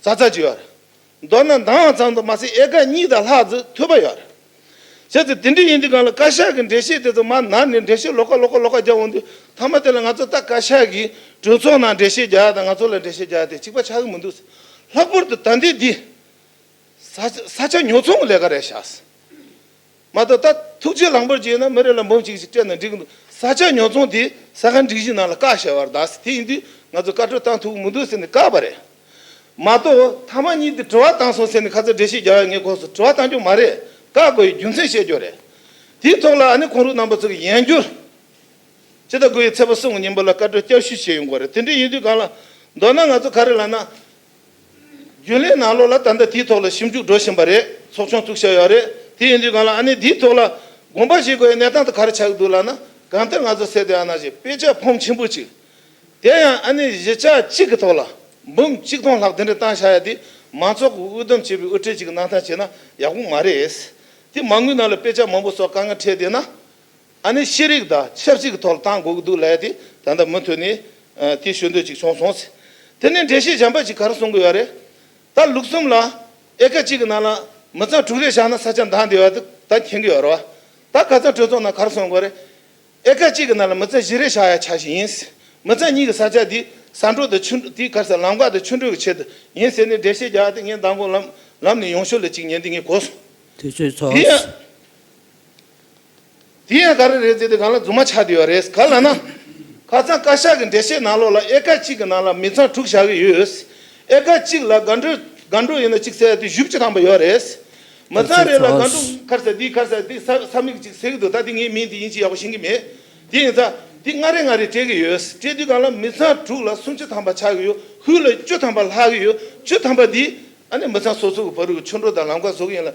ཚ་ཚ་ཅིག་ཡོད་རེད། མདོར་ན་འདང་བ་ཙམ་དུ་མ་ཟད་ཡལ་ག་གཉིས་དང་ལྷག་ཙུག་ཐུབ་པ་ཡོད། གལ་ཏེ་དེ་འདྲ་ཡིན་དུས་གང་ལ་བཀའ་ཤག་གི་འགྲེལ་བཤད་དེ་ཚོ་མར་ནར་ནས་འགྲེལ་བཤད་ལོག་ཀ་ལོག་ཀ་ལོག་ཀ་རྒྱག་འོང་དུས་མཐའ་མ་དེ་ལ་ང་ཚོ་ལྟ་བཀའ་ཤག་གིས་གྲོས་ཚོགས་ནང་འགྲེལ་བཤད་རྒྱག་དང་ང་ཚོ་ལ་འགྲེལ་བཤད་རྒྱག་དེ་གཅིག་པ་ཆགས་ཀྱི་མི་འདུག་ཟེར། ལྷག་པོར་དུ་ད་ལྟའི་འདི། ས་ཆ་ཉོ་ཚོང་གི་ལས་ཀ་རེད་ཤག། མ་གཏོགས་ད་ཐུགས་རྗེ་ལངས་པར་བྱས་ན་མི་རེ་ལ་འབུམ་གཅིག་ཅིག་སྤྲད་ན་འགྲིག་གི་འདུག་ས་ཆ་ཉོ་ཚོང་དེ་ས་ག་འགྲིག་གཞི་ནང་ལ་བཀག་ཞེས་བར་གདགས་ཟེར་དེ་ཡིན་དུས་ང་ཚོས་བཀའ་ཁྲོལ་བཏང་ཐུབ་ཀྱི་མི་འདུག་ཟེར་ནས་བཀག་པ་རེད་མ་གཏོགས་མཐའ་མ་གཉིས་དེ་དྲི་བ་བཏང་སོང་ཟེར་ནས་ཁ་ཚ་འདྲེ་ཤི་རྒྱག་ཡ་ངས་ཁོང་ཚོ་དྲི་བ་བཏང་རྒྱུ་མ་རེད་བཀག་དགོས་ཡའི་རྒྱུ་མཚན་བཤད་རྒྱུ་རེད་དེའི་ཐོག་ལ་ཨ་ནི་ཁོང་རུ་རྣམ་པ་ཚོ་གི་ཡན་བསྒྱུར་ཇི་ལྟ་དགོས་ཡའི་ཚད་པ་སྲུང་གི་ཉིན་པ་ལ་བཀའ་ཁྲོལ་བསྐྱར་ཞུ་བྱས་ཡོང་དགོས་རེད་དེ་འདྲའི་ཡིན་དུས་གང་ལ་མདོར་ན་ང་ཚོ་ག་རེ་ལ་ན་རྒྱུན་ལས་ནང་ལོགས་ལ་ད་ལྟ་དེའི་ཐོག་ལ་ཞིབ་འཇུག་འགྲོ་བཞིན་པ་རེད་ཚོགས་ཆུང་བཙུགས་ཤག་ཡོད་རེད་དེ་ཡིན་དུས་གང་ལ་ཨ་ནི་དེའི་ཐོག་ལ་དགོངས་པ་བཞེས་དགོས་ཡའི་གནས་སྟངས་ད་ག་རེ་ཆགས་ཀྱི་འདུག་ལགས་ན་གང་ལྟར་ང་ཚོ་སེ་ཏེ་ཨ་ན་ཞེས་དཔེ་ཆ་འཕོངས་ཆེན་པོ་གཅིག་དེ་ཡང་ཨ་ནི་གཞི་ཆགས་གཅིག་གི་ཐོག་ལ་འབུམ་གཅིག་སྟོང་ལྷག་དེ་འདྲ་བཏང་ཤག་ཡ་དེ་མང་ཚོགས་ཀྱི་དབུ་འདུམ་བྱས་པའི་དབུ་ཁྲིད་ཅིག་གི་གནང་སྟངས་བྱས་ན་ཡག་པོ་མ་རེད། དེ་མ་དངུལ་ནང་ལ་དཔེ་ཆ་མང་པོ་སོགས་དཀའ་ངལ་འཕྲད་བསྡད་ན། ཨ་ནི་ཤེས་རིག་དང་ཆབ་སྲིད་ཀྱི་ཐོག་ལ་ཐང་དགོས་ཀྱི་འདུག་ལས་དེ་ད་ལྟ་མུ་མཐུད་ནས་དེ་ཞུ་འདོད་ཅིག་བྱུང་སོང་ཟེར། དེ་ནས་འགྲེལ་བཤད་བྱམས་པ་ཞིག་ག་རེ་གསུང་གི་ཡོད་རེད། ད་ལུག་གསུམ་ལ་ཨེ་ཀ་གཅིག་གི་ནང་ལ་མི་ཚང་དྲུག་རེ་བཞག་ན་ས་ཆ་འདང་བདེ་བ་དེ་ད་མཁྱེན་གི་ཡོད་རེད་བ། ད་ག་ཚང་གྲོས་ཚོགས་ནང་ག་རེ་གསུང་གི་རེད། ཨེ་ཀ་གཅིག་གི་ནང་ལ་མི་ཚང་བཞི་རེ་བཞག་ཡ་ཆ་ཞིག་ཡིན། མི་ཚང་གཉིས་ཀྱི་ས་ཆ་དེ་ས་འབྲོག་དང་ཆུ་དེ་ག་རེ་ཟེར་ལམ་འགག་དང་ཆུ་འགྲོ་གི་ཆེད་དུ་ཡིན་ཟེར་ནས་འགྲེལ་བཤད་རྒྱག་སྟེ་ངས་མདང་དགོང་ལམ་ལམ་ནས་ཡོང་ཞོར་ལ་གཅིག་ཉན་དེ་ངས་གོ་སོང། དུས་ཚོད་འཚོལ། དེ་ཡང་ག་རེ་རེད་ཟེར་ཏེ་གང་ལ་རྫུན་མ་ཆགས་བསྡད་ཡོད་རེད་ག་ལ་ན། ཁ་ཚང་བཀའ་ཤག་གི་འགྲེལ་བཤད་ནང་ལོགས་ལ་ཨེ་ཀ་གཅིག་གི་ནང་ལ་མི་ཚང་དྲུག་བཞག་གི་ཡོད། ཨེ་ཀ་གཅིག་ལ་སྒ་འགྲོས་སྒ་འགྲོས་ཡིན་ན་གཅིག་བསལ་དེ་བཞི་བཅུ་ཐམ་པ་ཡོད་རེད། མི་ཚང་རེ་ལ་སྒ་འགྲོས། ཁར་ཟེར་དེའི་ཁར་ཟེར་དེ་ས་ས་མིག་གཅིག་ཟེར་གི་འདུག་ད་དེ་ངའི་མིང་དེ་ཡིན་གཅིག་ཡག་པོ་ཤེས་གི་མེད། དེ་ཡིན་ཙང་དེ་ལྔ་རེ་ལྔ་རེ་སྤྲད་གི་ཡོད། སྤྲད་དུས་གང་ལ་མི་ཚང་དྲུག་ལ་སུམ་ཅུ་ཐམ་པ་ཆགས་གི་ཡོད་ཧུད་ལ་བཅུ་ཐམ་པ་ལྷག་གི་ཡོད་བཅུ་ཐམ་པ་དེ། ཨ་ནི་མི་ཚང་སོ་སོ་གི་བོད་རིགས་ཀྱི་ཆོས་འབྲོག་དང་ལམ་ཀ་བཟོ་གི་ཡིན་ལ།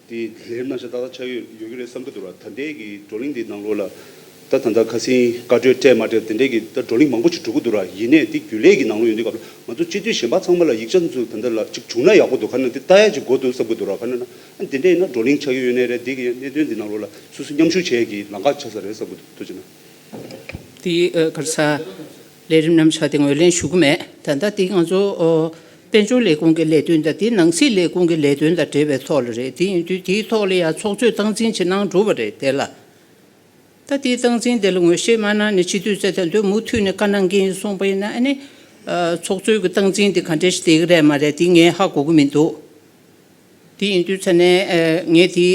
དེ་ལས་ན་ཞག་ཏག་ཏག་ཆགས་ཡོད་ཡོད་ཀྱི་རེད་བསམ་གྱི་འདུག་ལ་ད་ལྟའི་གི་བགྲོ་གླེང་འདིའི་ནང་ལོ་ལ་ད་ད་ད་ཁ་སིང་བཀའ་བགྲོས་སྤྲད་མ་སྤྲད་དེ་འདྲའི་གི་ད་བགྲོ་གླེང་མང་པོ་ཞིག་གྲུབ་ཀྱི་འདུག་ལ་ཡིན་ནས་དེ་རྒྱུན་ལས་གི་ནང་ལོ་ཡོང་དུས་སྐབས་ལ་ང་ཚོ་སྤྱི་འཐུས་གཞན་པ་ཚང་མ་ལ་ཡིག་ཆ་འདི་ཚོ་ད་ལྟ་ལ་ཅིག་བྱུང་ན་ཡག་པོ་འདུག་ག་ན་དེ་ལྟ་ཡ་ཅིག་དགོས་འདུག་བསམ་གྱི་འདུག་ལ་ག་ན་ན་ཨ་དེ་འདྲས་ཡིན་ན་བགྲོ་གླེང་ཆགས་ཀྱི་ཡོད་ནའི་རེད་དེ་གི་གནད་དོན་འདི་ནང་ལོ་ལ་སུ་སུ་མཉམ་ཞུགས་བྱས་གི་ལང་ཀ་ཆགས་ས་རེད་བསམ་གྱི་འདུག་ཅེ་ན། དེ་གར་ས། ལས་རིམ་ནམ་བྱ་དེ་ངོས་ལེན་ཞུ་གི་མེད། ད་ལྟ་འདི་ང་ཚོ་དཔལ་འབྱོར་ལས་ཁུངས་ཀྱི་ལས་དོན་དང་དེ་ནང་སྲིད་ལས་ཁུངས་ཀྱི་ལས་དོན་དང་འབྲེལ་བའི་ཐོག་ལ་རེད། དེ་ཡིན་དུས་དེའི་ཐོག་ལ་ཡང་ཚོགས་གཙོས་སྟངས་འཛིན་བྱེད་གནང་གྲུབ་པ་རེད་དེ་ལ། ད་དེའི་སྟངས་འཛིན་དེ་ལ་ངོས་བཞེས་མ་གནང་ནས་སྤྱི་འཐུས་ཚེ་བརྟན་དུ་མུ་མཐུད་ནས་བཀའ་གནང་གིན་སོང་པ་ཡིན་ན་ཨ་ནི། ཚོགས་གཙོས་ཀྱི་སྟངས་འཛིན་དེ་ག་འདྲའི་ཞིག་དེ་ག་རེད་མ་རེད་དེ་ངས་ཧ་གོ་གི་མི་འདུག། དེ་ཡིན་དུས་ཚ་ནས་ངས་དེའི་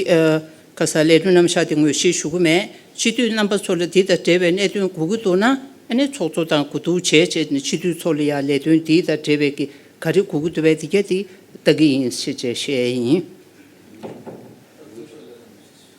ག་ས་ལས་དོན་རྣམ་གཞག་དེ་ངོས་ཤེས་ཞུ་གི་མེད། སྤྱི་འཐུས་རྣམ་པ་ཚོ་ལ་དེ་དང་འབྲེལ་བའི་གནད་དོན་གོ་གི་འདུག་ན་ཨ་ནེ་ཚོགས་གཙོ་དང་གོ་བསྡུར་བྱས་བྱས་ནས་སྤྱི་འཐུས་ཚོ་ལ་ཡང་ལས་དོན་དེ་དང་འབྲེལ་བའི་གི་ག་རེ་གོ་གི་འདུག་བས་དེ་ག་དེ་ལྟ་གི་ཡིན་ཞེས་བཤད་ཡིན།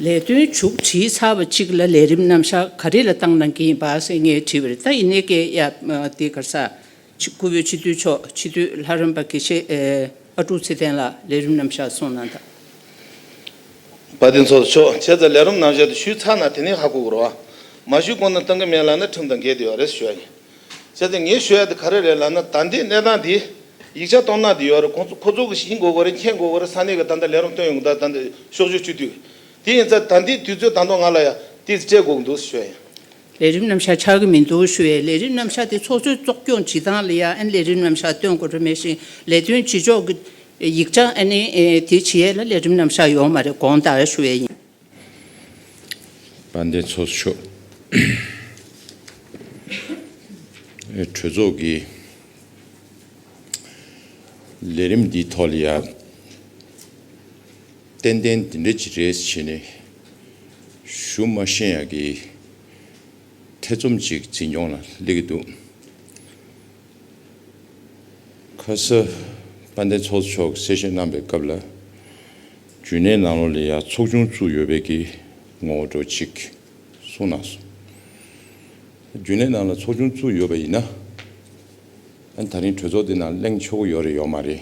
ལས་དོན་མཇུག་བསྒྲིལ་ཚར་བ་ཅིག་ལ་ལས་རིམ་རྣམ་བཞག་ག་རེ་ལ་བཏང་གནང་གི་ཡིན་པ་སེ་ངས་དྲིས་པར་ད་ཡིན་ནའི་སྐད་ཡ་འདི་གར་ས། སྐུ་བོད་སྤྱི་འཐུས་མཆོག་སྤྱི་འཐུས་ལྷ་རམས་པ་དགེ་བཤེས་ཨ་ཀྲུག་ཚེ་བརྟན་ལགས་ལས་རིམ་རྣམ་བཞག་སོང་གནང་དང། བ་དེ་ཚོ་ཆོག་བྱས་ཙང་ལས་རིམ་རྣམ་བཞག་དེ་ཞུས་ཚར་ན་དེ་ནས་ཧ་གོ་དགོས་རོགས། མ་ཞུས་གོང་ནས་བཏང་གི་མེད་ལ་ན་ཁྲིམས་དང་འགལ་དེ་བ་རེད་ཟེར་ཞོར་ཡིན། བྱས་ཏེ་ངས་ཤོད་ཡ་དེ་ག་རེ་རེད་ལབ་ན་ད་ལྟའི་གནས་སྟངས་འདི་ཡིག་ཆ་གཏོང་ན་དེ་ཡོད་རེད་ཁོ་ཚོ་ཁོ་ཚོ་གི་ཞིང་མགོ་བཀོད་རེད་མཁན་མགོ་བཀོད་རེད་ས་གནས་ཀྱི་ད་ལྟ་ལས་རོགས་སྟོན་ཡོང་གི་ད་ད་ལྟ་ཤོག་ཤོག་ཅུ་དུས་དེ་ཡིན་ཚད་ད་ལྟའི་དུས་ཚོད་ད་དོ་ང་ལ་ཡ་དེ་སྤྲད་དགོས་ཀྱི་འདུག་ཤོད་ཡ། ལས་རིམ་རྣམ་གཞག་ཆགས་ཀྱི་མི་འདུག་ཤོད་ཡ་ལས་རིམ་རྣམ་གཞག་དེ་ཚོགས་གཙོས་གཙོ་སྐྱོང་བྱེད་སྟངས་ལ་ཡ་ཨན་ལས་རིམ་རྣམ་གཞག་སྟོན་དགོས་རེད་མེད་ཤིང་ལས་དོན་བྱེད་ཕྱོགས་ཀྱི་ཡིག་ཆ་ཨན་དེ་བྱེད་ཡ་ལ་ལས་རིམ་རྣམ་གཞག་ཡོག་མ་རེད་དགོངས་དག་ཤོད་ཡ་ཡིན། དཔལ་ལྡན་ཚོགས་མཆོག་གྲོས་ཚོགས་ཀྱི་ལས་རིམ་འདིའི་ཐོག་ལ་ཡང་ཏན་ཏན་འདི་འདྲ་ཅིག་རེད་ཅེས་ནས་ཞུ་མ་ཤེས་ཡག་གི་ཐེ་ཚོམ་ཅིག་འཛིན་སྐྱོང་ལ་སླེབས་ཀྱི་འདུག་ཁ་སང་དཔལ་ལྡན་ཚོགས་མཆོག་གིས་གསལ་བཤད་གནང་པའི་སྐབས་ལ། རྒྱུན་ལས་ནང་ལོགས་ལས་ཡག་ཚོགས་ཆུང་བཙུགས་ཡོད་པའི་གི་ངོ་བོ་འགྲོ་གཅིག་གསུང་གནང་སོང། རྒྱུན་ལས་ནང་ལ་ཚོགས་ཆུང་བཙུགས་ཡོད་པ་ཡིན་ན། ཨ་ནི་ད་རིང་གྲོས་ཚོགས་འདི་ནང་གླེང་ཆོག་གི་ཡོད་རེད་ཡོད་མ་རེད།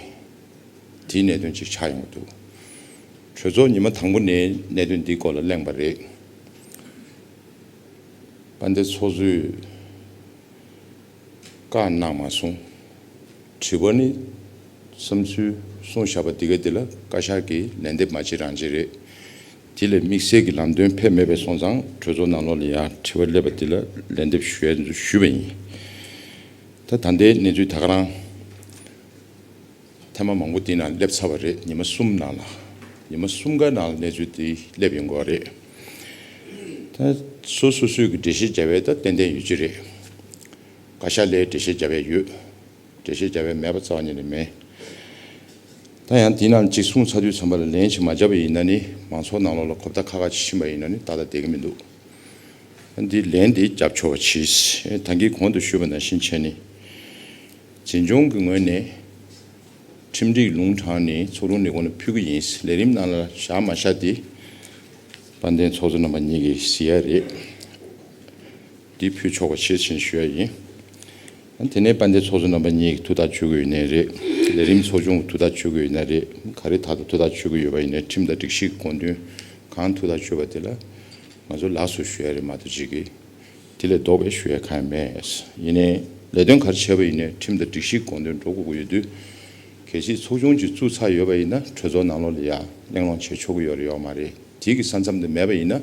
དེའི་གནད་དོན་གཅིག་ཆགས་ཡོང་གི་འདུག་གྲོས་ཚོགས་ཉི་མ་དང་པོ་ནས་གནད་དོན་འདིའི་སྐོར་ལ་གླེང་བ་རེད། པ་འདི་ཚོགས་གཙོའི། བཀའ་གནང་མ་གསུངས། དྲི་བ་ནི། བསམ་ཚུལ་གསུང་བཞག་པ་འདི་ག་འདི་ལ་བཀའ་ཤག་གིས་ལན་འདེབས་མ་བྱེད་རང་བྱེད་རེད། དེ་ལས་དམིགས་བསལ་གྱི་ལམ་སྟོན་ཕེབས་མེད་པས་སོང་ཙང་གྲོས་ཚོགས་ནང་ལོགས་ལ་ཡང་དྲི་བ་སླེབས་པ་འདི་ལ་ལན་འདེབས་ཞུས་པ་ཡིན། ད་ད་ལྟའི་གནས་ཚུལ་ད་ག་རང། ཐེངས་མ་མང་པོ་འདི་ན་སླེབས་ཚར་བ་རེད་ཉི་མ་གསུམ་ནང་ལ། ཉི་མ་གསུམ་ག་ནང་ལ་གནས་ཚུལ་འདི་སླེབས་ཡོང་དགོས་རེད། ད་སོ་སོ་སོའི་གི་འགྲེལ་བཤད་བྱ་བའི་ད་ཏན་ཏན་ཡོད་ཀྱི་རེད། བཀའ་ཤག་ལས་འགྲེལ་བཤད་བྱ་བའི་ཡོད། འགྲེལ་བཤད་བྱ་བའི་མེད་པ་རྩ་བ་ཉིད་ནས་མེད། ད་ཡང་འདི་ནང་གཅིག་གསུངས་ཚར་དུས་ཚང་པ་ལ་ལན་ཞིག་མ་བྱ་བ་ཡིན་ན་ནི་མང་ཚོགས་ནང་ལོག་ལ་གོ་བརྡ་ཁ་ཁ་ཅིག་ཕྱིན་པ་ཡིན་ན་ནི་ཏག་ཏག་བསྡད་ཀྱི་མི་འདུག་ད་འདི་ལན་འདི་བརྒྱབ་ཆོག་བ་གྱིས། ད་འདི་གོང་དུ་ཞུས་པ་ནང་བཞིན་བྱས་ནི། བྱེས་འབྱུང་གི་ངོས་ནས། ཁྲིམས་སྒྲིག་ལུང་དྲངས་ནས་ཚོགས་རུང་ལས་ཁུངས་ལ་ཕུལ་གྱི་ཡིན། ལས་རིམ་ནང་ལ་བཞག་མ་བཞག་དེ། དཔལ་ལྡན་ཚོགས་གཙོ་རྣམ་པ་གཉིས་ཀྱིས་གཟིགས་ཡ་རེད། འདི་ཕུལ་ཆོག་པ་ཤེར་ཕྱིན་ཞུ་ཡ་ཡིན། དེ་ནས་དཔལ་ལྡན་ཚོགས་གཙོ་རྣམ་པ་གཉིས་ཀྱིས་ཐུགས་ཐག་གཅོད་གི་ཡོད་ནའི་རེད། ལས་རིམ་ཚོགས་ཆུང་གིས་ཐུགས་ཐག་གཅོད་གི་ཡོད་ནའི་རེད། ག་རེ་དག་ཐུགས་ཐག་གཅོད་གི་ཡོད་པ་ཡིན་ནའི་ཁྲིམས་དང་སྒྲིག་གཞི་གི་དགོངས་དོན་གང་ཐུགས་ཐག་གཅོད་པ་དེ་ལ་ང་ཚོ་ལགས་སོ་ཞུ་ཡ་རེད་མ་གཏོགས་ཅི་གི། དེ་ལས་ལྡོག་པའི་ཞུ་ཡ་ཁ་ཡ་མེད། ཡིན་ནའི་ལས་དོན་ག་རེ་བྱས་པ་ཡིན་ནའི་ཁྲིམས་དང་སྒྲིག་གཞིའི་དགོངས་དོན་འགྲོ་དགོས་ཀྱི་ཡོད་དུས། གལ་སྲིད་ཚོགས་ཆུང་གཅིག་བཙུགས་ཚར་ཡོད་པ་ཡིན་ན་གྲོས་ཚོགས་ནང་ལོགས་ལ་ཡར་གླེང་སློང་བྱེད་ཆོག་གི་ཡོད་རེད་ཡོད་མ་རེད་དེའི་གི་ས་མཚམས་དེ་མེད་པ་ཡིན་ན།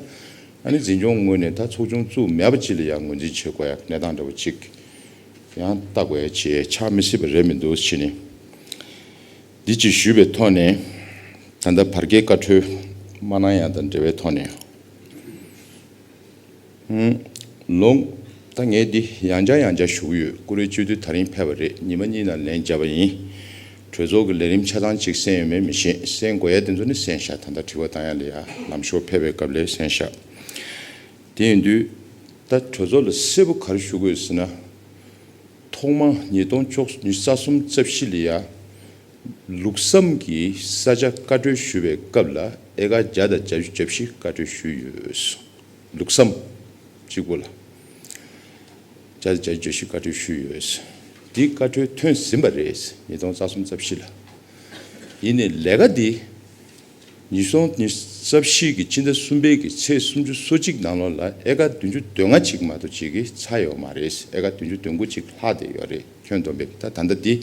ཨ་ནི་འཛིན་སྐྱོང་ངོས་ནས་ད་ཚོགས་ཆུང་བཙུགས་མེད་པ་ཅིག་ལ་ཡར་ངོས་འཛིན་བྱེད་དགོས་ཡ་གནས་སྟངས་འདྲ་བོ་ཅིག་ཡང་ལྟ་དགོས་ཡ་ཅེས་ཆགས་མི་སྲིད་པ་རེད་མི་འདུག་ཕྱིས་ནས་འདི་ཅིག་ཞུས་པའི་ཐོག་ནས་ད་ལྟ་བར་བརྒལ་བཀའ་འཁྲོལ་མ་གནང་ཡ་དང་འབྲེལ་བའི་ཐོག་ནས། ལོང། ད་ངས་འདི་ཡང་བྱ་ཡང་བྱ་བཞུགས་ཡོད་ཀུ་རེ་བཅོལ་དུས་ད་རིང་ཕེབས་པ་རེད་ཉི་མ་གཉིས་ནང་ལན་བརྒྱབ་པ་ཡིན། གྲོས་ཚོགས་ཀྱི་ལས་རིམ་ཆ་ཚང་གཅིག་གསན་ཡོད་མེད་མི་ཤེས་གསན་དགོས་ཡ་དེ་ཚོ་ནི་གསན་བཞག་ད་ལྟ་དྲི་བ་གཏང་ཡ་ལས་ཡ་ལམ་ཞོར་ཕེབས་པའི་སྐབས་ལས་གསན་བཞག་དེ་ཡིན་དུས། ད་གྲོས་ཚོགས་ལ་གསལ་པོ་ག་རེ་ཞུ་དགོས་ཟེར་ན། ཐོག་མ་ཉིས་སྟོང་བཅུ་གཉིས་རྩ་གསུམ་རྩ་བཞི་ལས་ཡ། ལུགས་བསམ་གྱིས་ས་ཆ་བཀའ་འཁྲོལ་ཞུ་བའི་སྐབས་ལ་ཨེ་ཀ་བརྒྱ་དང་གྱ་བཞི་གྱ་བཞི་བཀའ་འཁྲོལ་ཞུས་ཡོད། ལུགས་བསམ། གཅིག་པོ་ལ་བརྒྱ་དང་གྱ་བཞི་གྱ་བཞི་བཀའ་འཁྲོལ་ཞུས་ཡོད། འདིའི་བཀའ་འཁྲོལ་ཐོན་ཟིན་པ་རེད། ཉིས་སྟོང་རྩ་གསུམ་རྩ་བཞི་ལ། ཡིན་ནས་ལས་ཀ་འདི། ཉིས་སྟོང་ནི་རྩ་བཞི་ཀྱི་སྤྱི་ཟླ་གསུམ་པའི་ཀྱི་ཚེས་སུམ་ཅུ་སོ་གཅིག་ནང་ལོ་ལ་ཨེ་ཀ་བདུན་ཅུ་དོན་ལྔ་ཅིག་མ་གཏོགས་བྱེད་ཀྱི་ཚ་ཡོད་མ་རེད་ཨེ་ཀ་བདུན་ཅུ་དོན་དགུ་ཅིག་ལྷག་བསྡད་ཡོད་རེད་ཁྱོད་བསྡོམས་པས་ད་ད་ལྟ་འདི་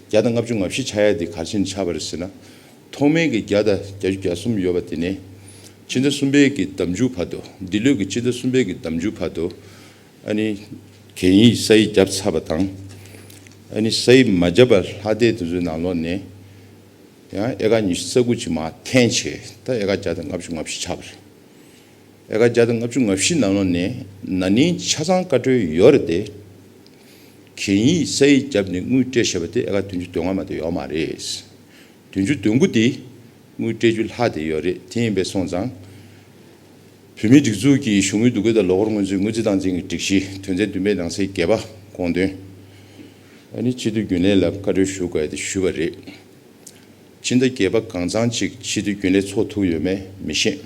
བརྒྱ་དང་ལྔ་བཅུ་ང་བཞི་ཆགས་ཡས་འདི་གར་ཕྱིན་ཆགས་པ་རེད་ཟེར་ན་ཐོག་མེད་ཀྱི་བརྒྱ་དང་གྱ་བཅུ་གྱ་གསུམ་ཡོད་པ་དེ་ནས་སྤྱི་ཟླ་གསུམ་པའི་ཀྱི་ཟླ་མཇུག་བར་དུ་འདི་ལོས་ཀྱི་སྤྱི་ཟླ་གསུམ་པའི་ཀྱི་ཟླ་མཇུག་བར་དུ་ཨ་ནི་གན་ཡིག་ས་ཡིག་བརྒྱབ་ཚར་བ་དང་ཨ་ནི་ས་ཡིག་མ་བརྒྱབ་པར་ལྷག་བསྡད་དེ་ཚོའི་ནང་ལོ་ནས་ཡང་ཨེ་ཀ་ཉི་ཤུ་རྩ་དགུ་ཅིག་མ་འཐེན་བྱས་ད་ཨེ་ཀ་བརྒྱ་དང་ལྔ་བཅུ་ལྔ་བཞི་ཆགས་པ་རེད། ཨེ་ཀ་བརྒྱ་དང་ལྔ་བཅུ་ལྔ་བཞི་ནང་ལོགས་ནས་ན་ནིང་ཆ་ཚང་བཀའ་འཁྲོལ་ཡོད་རེད་དེ། གན་ཡིག་ས་ཡིག་བརྒྱབ་ནས་དངུལ་སྤྲད་བྱས་པ་དེ་ཨེ་ཀ་བདུན་ཅུ་དོན་ལྔ་མ་དེ་ཡོག་མ་རེད། བདུན་ཅུ་དོན་དགུ་དེ་དངུལ་སྤྲད་རྒྱུ་ལྷག་དེ་ཡོད་རེད་དེ་ཡིན་པས་སོང་ཙང། བོད་མིའི་སྒྲིག་འཛུགས་ཀྱི་གཞུང་དངུལ་བསྡུ་སྒོས་ད་ལོ་ཧོར་དངུལ་ཆུ་དངུལ་རྩིས་སྟངས་འཛིན་གྱི་སྒྲིག་གཞི་དོན་ཚན་བདུན་པའི་ནང་གསེས་བརྒྱད་པ་དགོངས་དོན། ཨ་ནི་ཕྱི་དྲོ་རྒྱུན་ལས་ལ་བཀའ་འཁྲོལ་ཞུ་དགོས་ཏེ་ཞུས་པ་རེད། སྤྱི་ཟླ་བརྒྱད་པ་གང་ཚང་གཅིག་ཕྱི་དྲོ་རྒྱུན་ལས་ཚོགས་ཐུག་ཡོད་མེད་མི་ཤེས།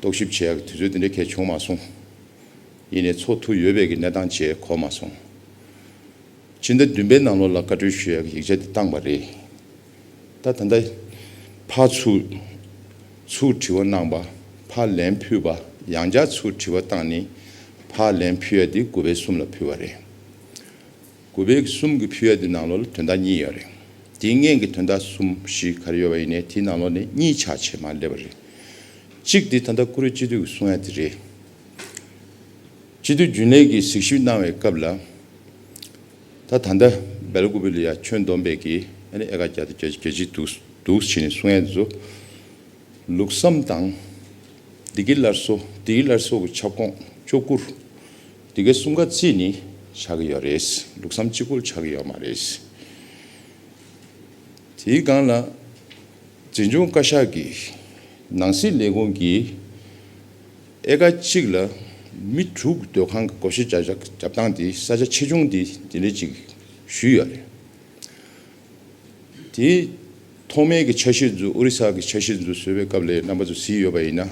རྟོག་ཞིབ་བྱས་ཡག་དུས་ཚོད་དེ་འདྲའི་གལ་བྱུང་མ་སོང། ཡིན་ནས་ཚོགས་ཐུག་ཡོད་བས་ཀྱི་གནས་སྟངས་བཅས་གོ་མ་སོང། སྤྱི་ཟླ་བདུན་པའི་ནང་ལོགས་ལ་བཀའ་འཁྲོལ་ཞུས་ཡག་གི་ཡིག་ཆ་དེ་བཏང་བ་རེད། ད་ད་འདའི། ཕ་ཚུགས། ཚུགས་དྲི་བ་གནང་བ། ཕ་ལན་ཕུལ་བ། ཡང་བསྐྱར་ཚུགས་དྲི་བ་བཏང་ནི། ཕ་ལན་ཕུལ་ཡ་དེ་དགུ་བའི་གསུམ་ལ་ཕུལ་བ་རེད། དགུ་བའི་གསུམ་གྱི་ཕུལ་ཡ་དེ་ནང་ལོག་ལ་དོན་དག་གཉིས་ཡོད་རེད། དེའི་ངན་གྱི་དོན་དག་གསུམ་བཞི་ག་རེ་ཡོད་པ་ཡིན་ནའི་དེའི་ནང་ལོག་ནས་གཉིས་ཆགས་ཆེ་མང་སླེབས་པ་རེད། གཅིག་དེ་ད་ལྟ་ཀུ་རེ་སྤྱི་འཐུས་ཀྱི་གསུང་ཡ་དེ་རེད། སྤྱི་འཐུས་རྒྱུན་ལས་ཀྱིས་གཟིགས་ཞིབ་གནང་བའི་སྐབས་ལ། ད་ད་ནྡ་བལ་ཀུ་བི་ལི་ཡ་ཁྱོད་འདོམས་པས་གི་ཨ་ནི་ཨེ་ག་གྱ་ཏི་གྱ་གྱ་ཅི་འདུག་འདུག་བྱི་ནི་སུ་ངན་བཟོ་ལུགས་སམ་དང། འདི་གི་ལར་སོ་འདི་གི་ལར་སོ་གི་ཁྱབ་ཁོངས་ཅོ་སྐུར་འདི་གའི་སུམ་ག་ཙི་ནི་ཆགས་གི་ཡོད་རེད་ལུགས་སམ་ཅི་ཁུལ་ཆགས་གི་ཡོད་མ་རེད། དེའི་སྒང་ལ་འཛིན་སྐྱོང་བཀའ་ཤག་གི་ནང་སྲིད་ལས་ཁུངས་ཀྱི། ཨེ་ཀ་གཅིག་ལ་མི་དྲུག་སྡོད་ཁང་གི་སྒོ་ཕྱེ་བྱ་བཞག་བྱབ་སྟངས་དེ་ས་ཆ་ཆེ་ཆུང་དེ་དེ་འདྲའི་ཅིག་ཞུས་ཡོད་རེད། དེ་ཐོག་མའི་གི་ཆ་གཞི་རྫུ་ཨོ་རི་ས་གི་ཆ་གཞི་རྫུ་བཟོས་པའི་སྐབས་ལས་རྣམ་པ་རྫུ་བཟི་ཡོད་པ་ཡིན་ན།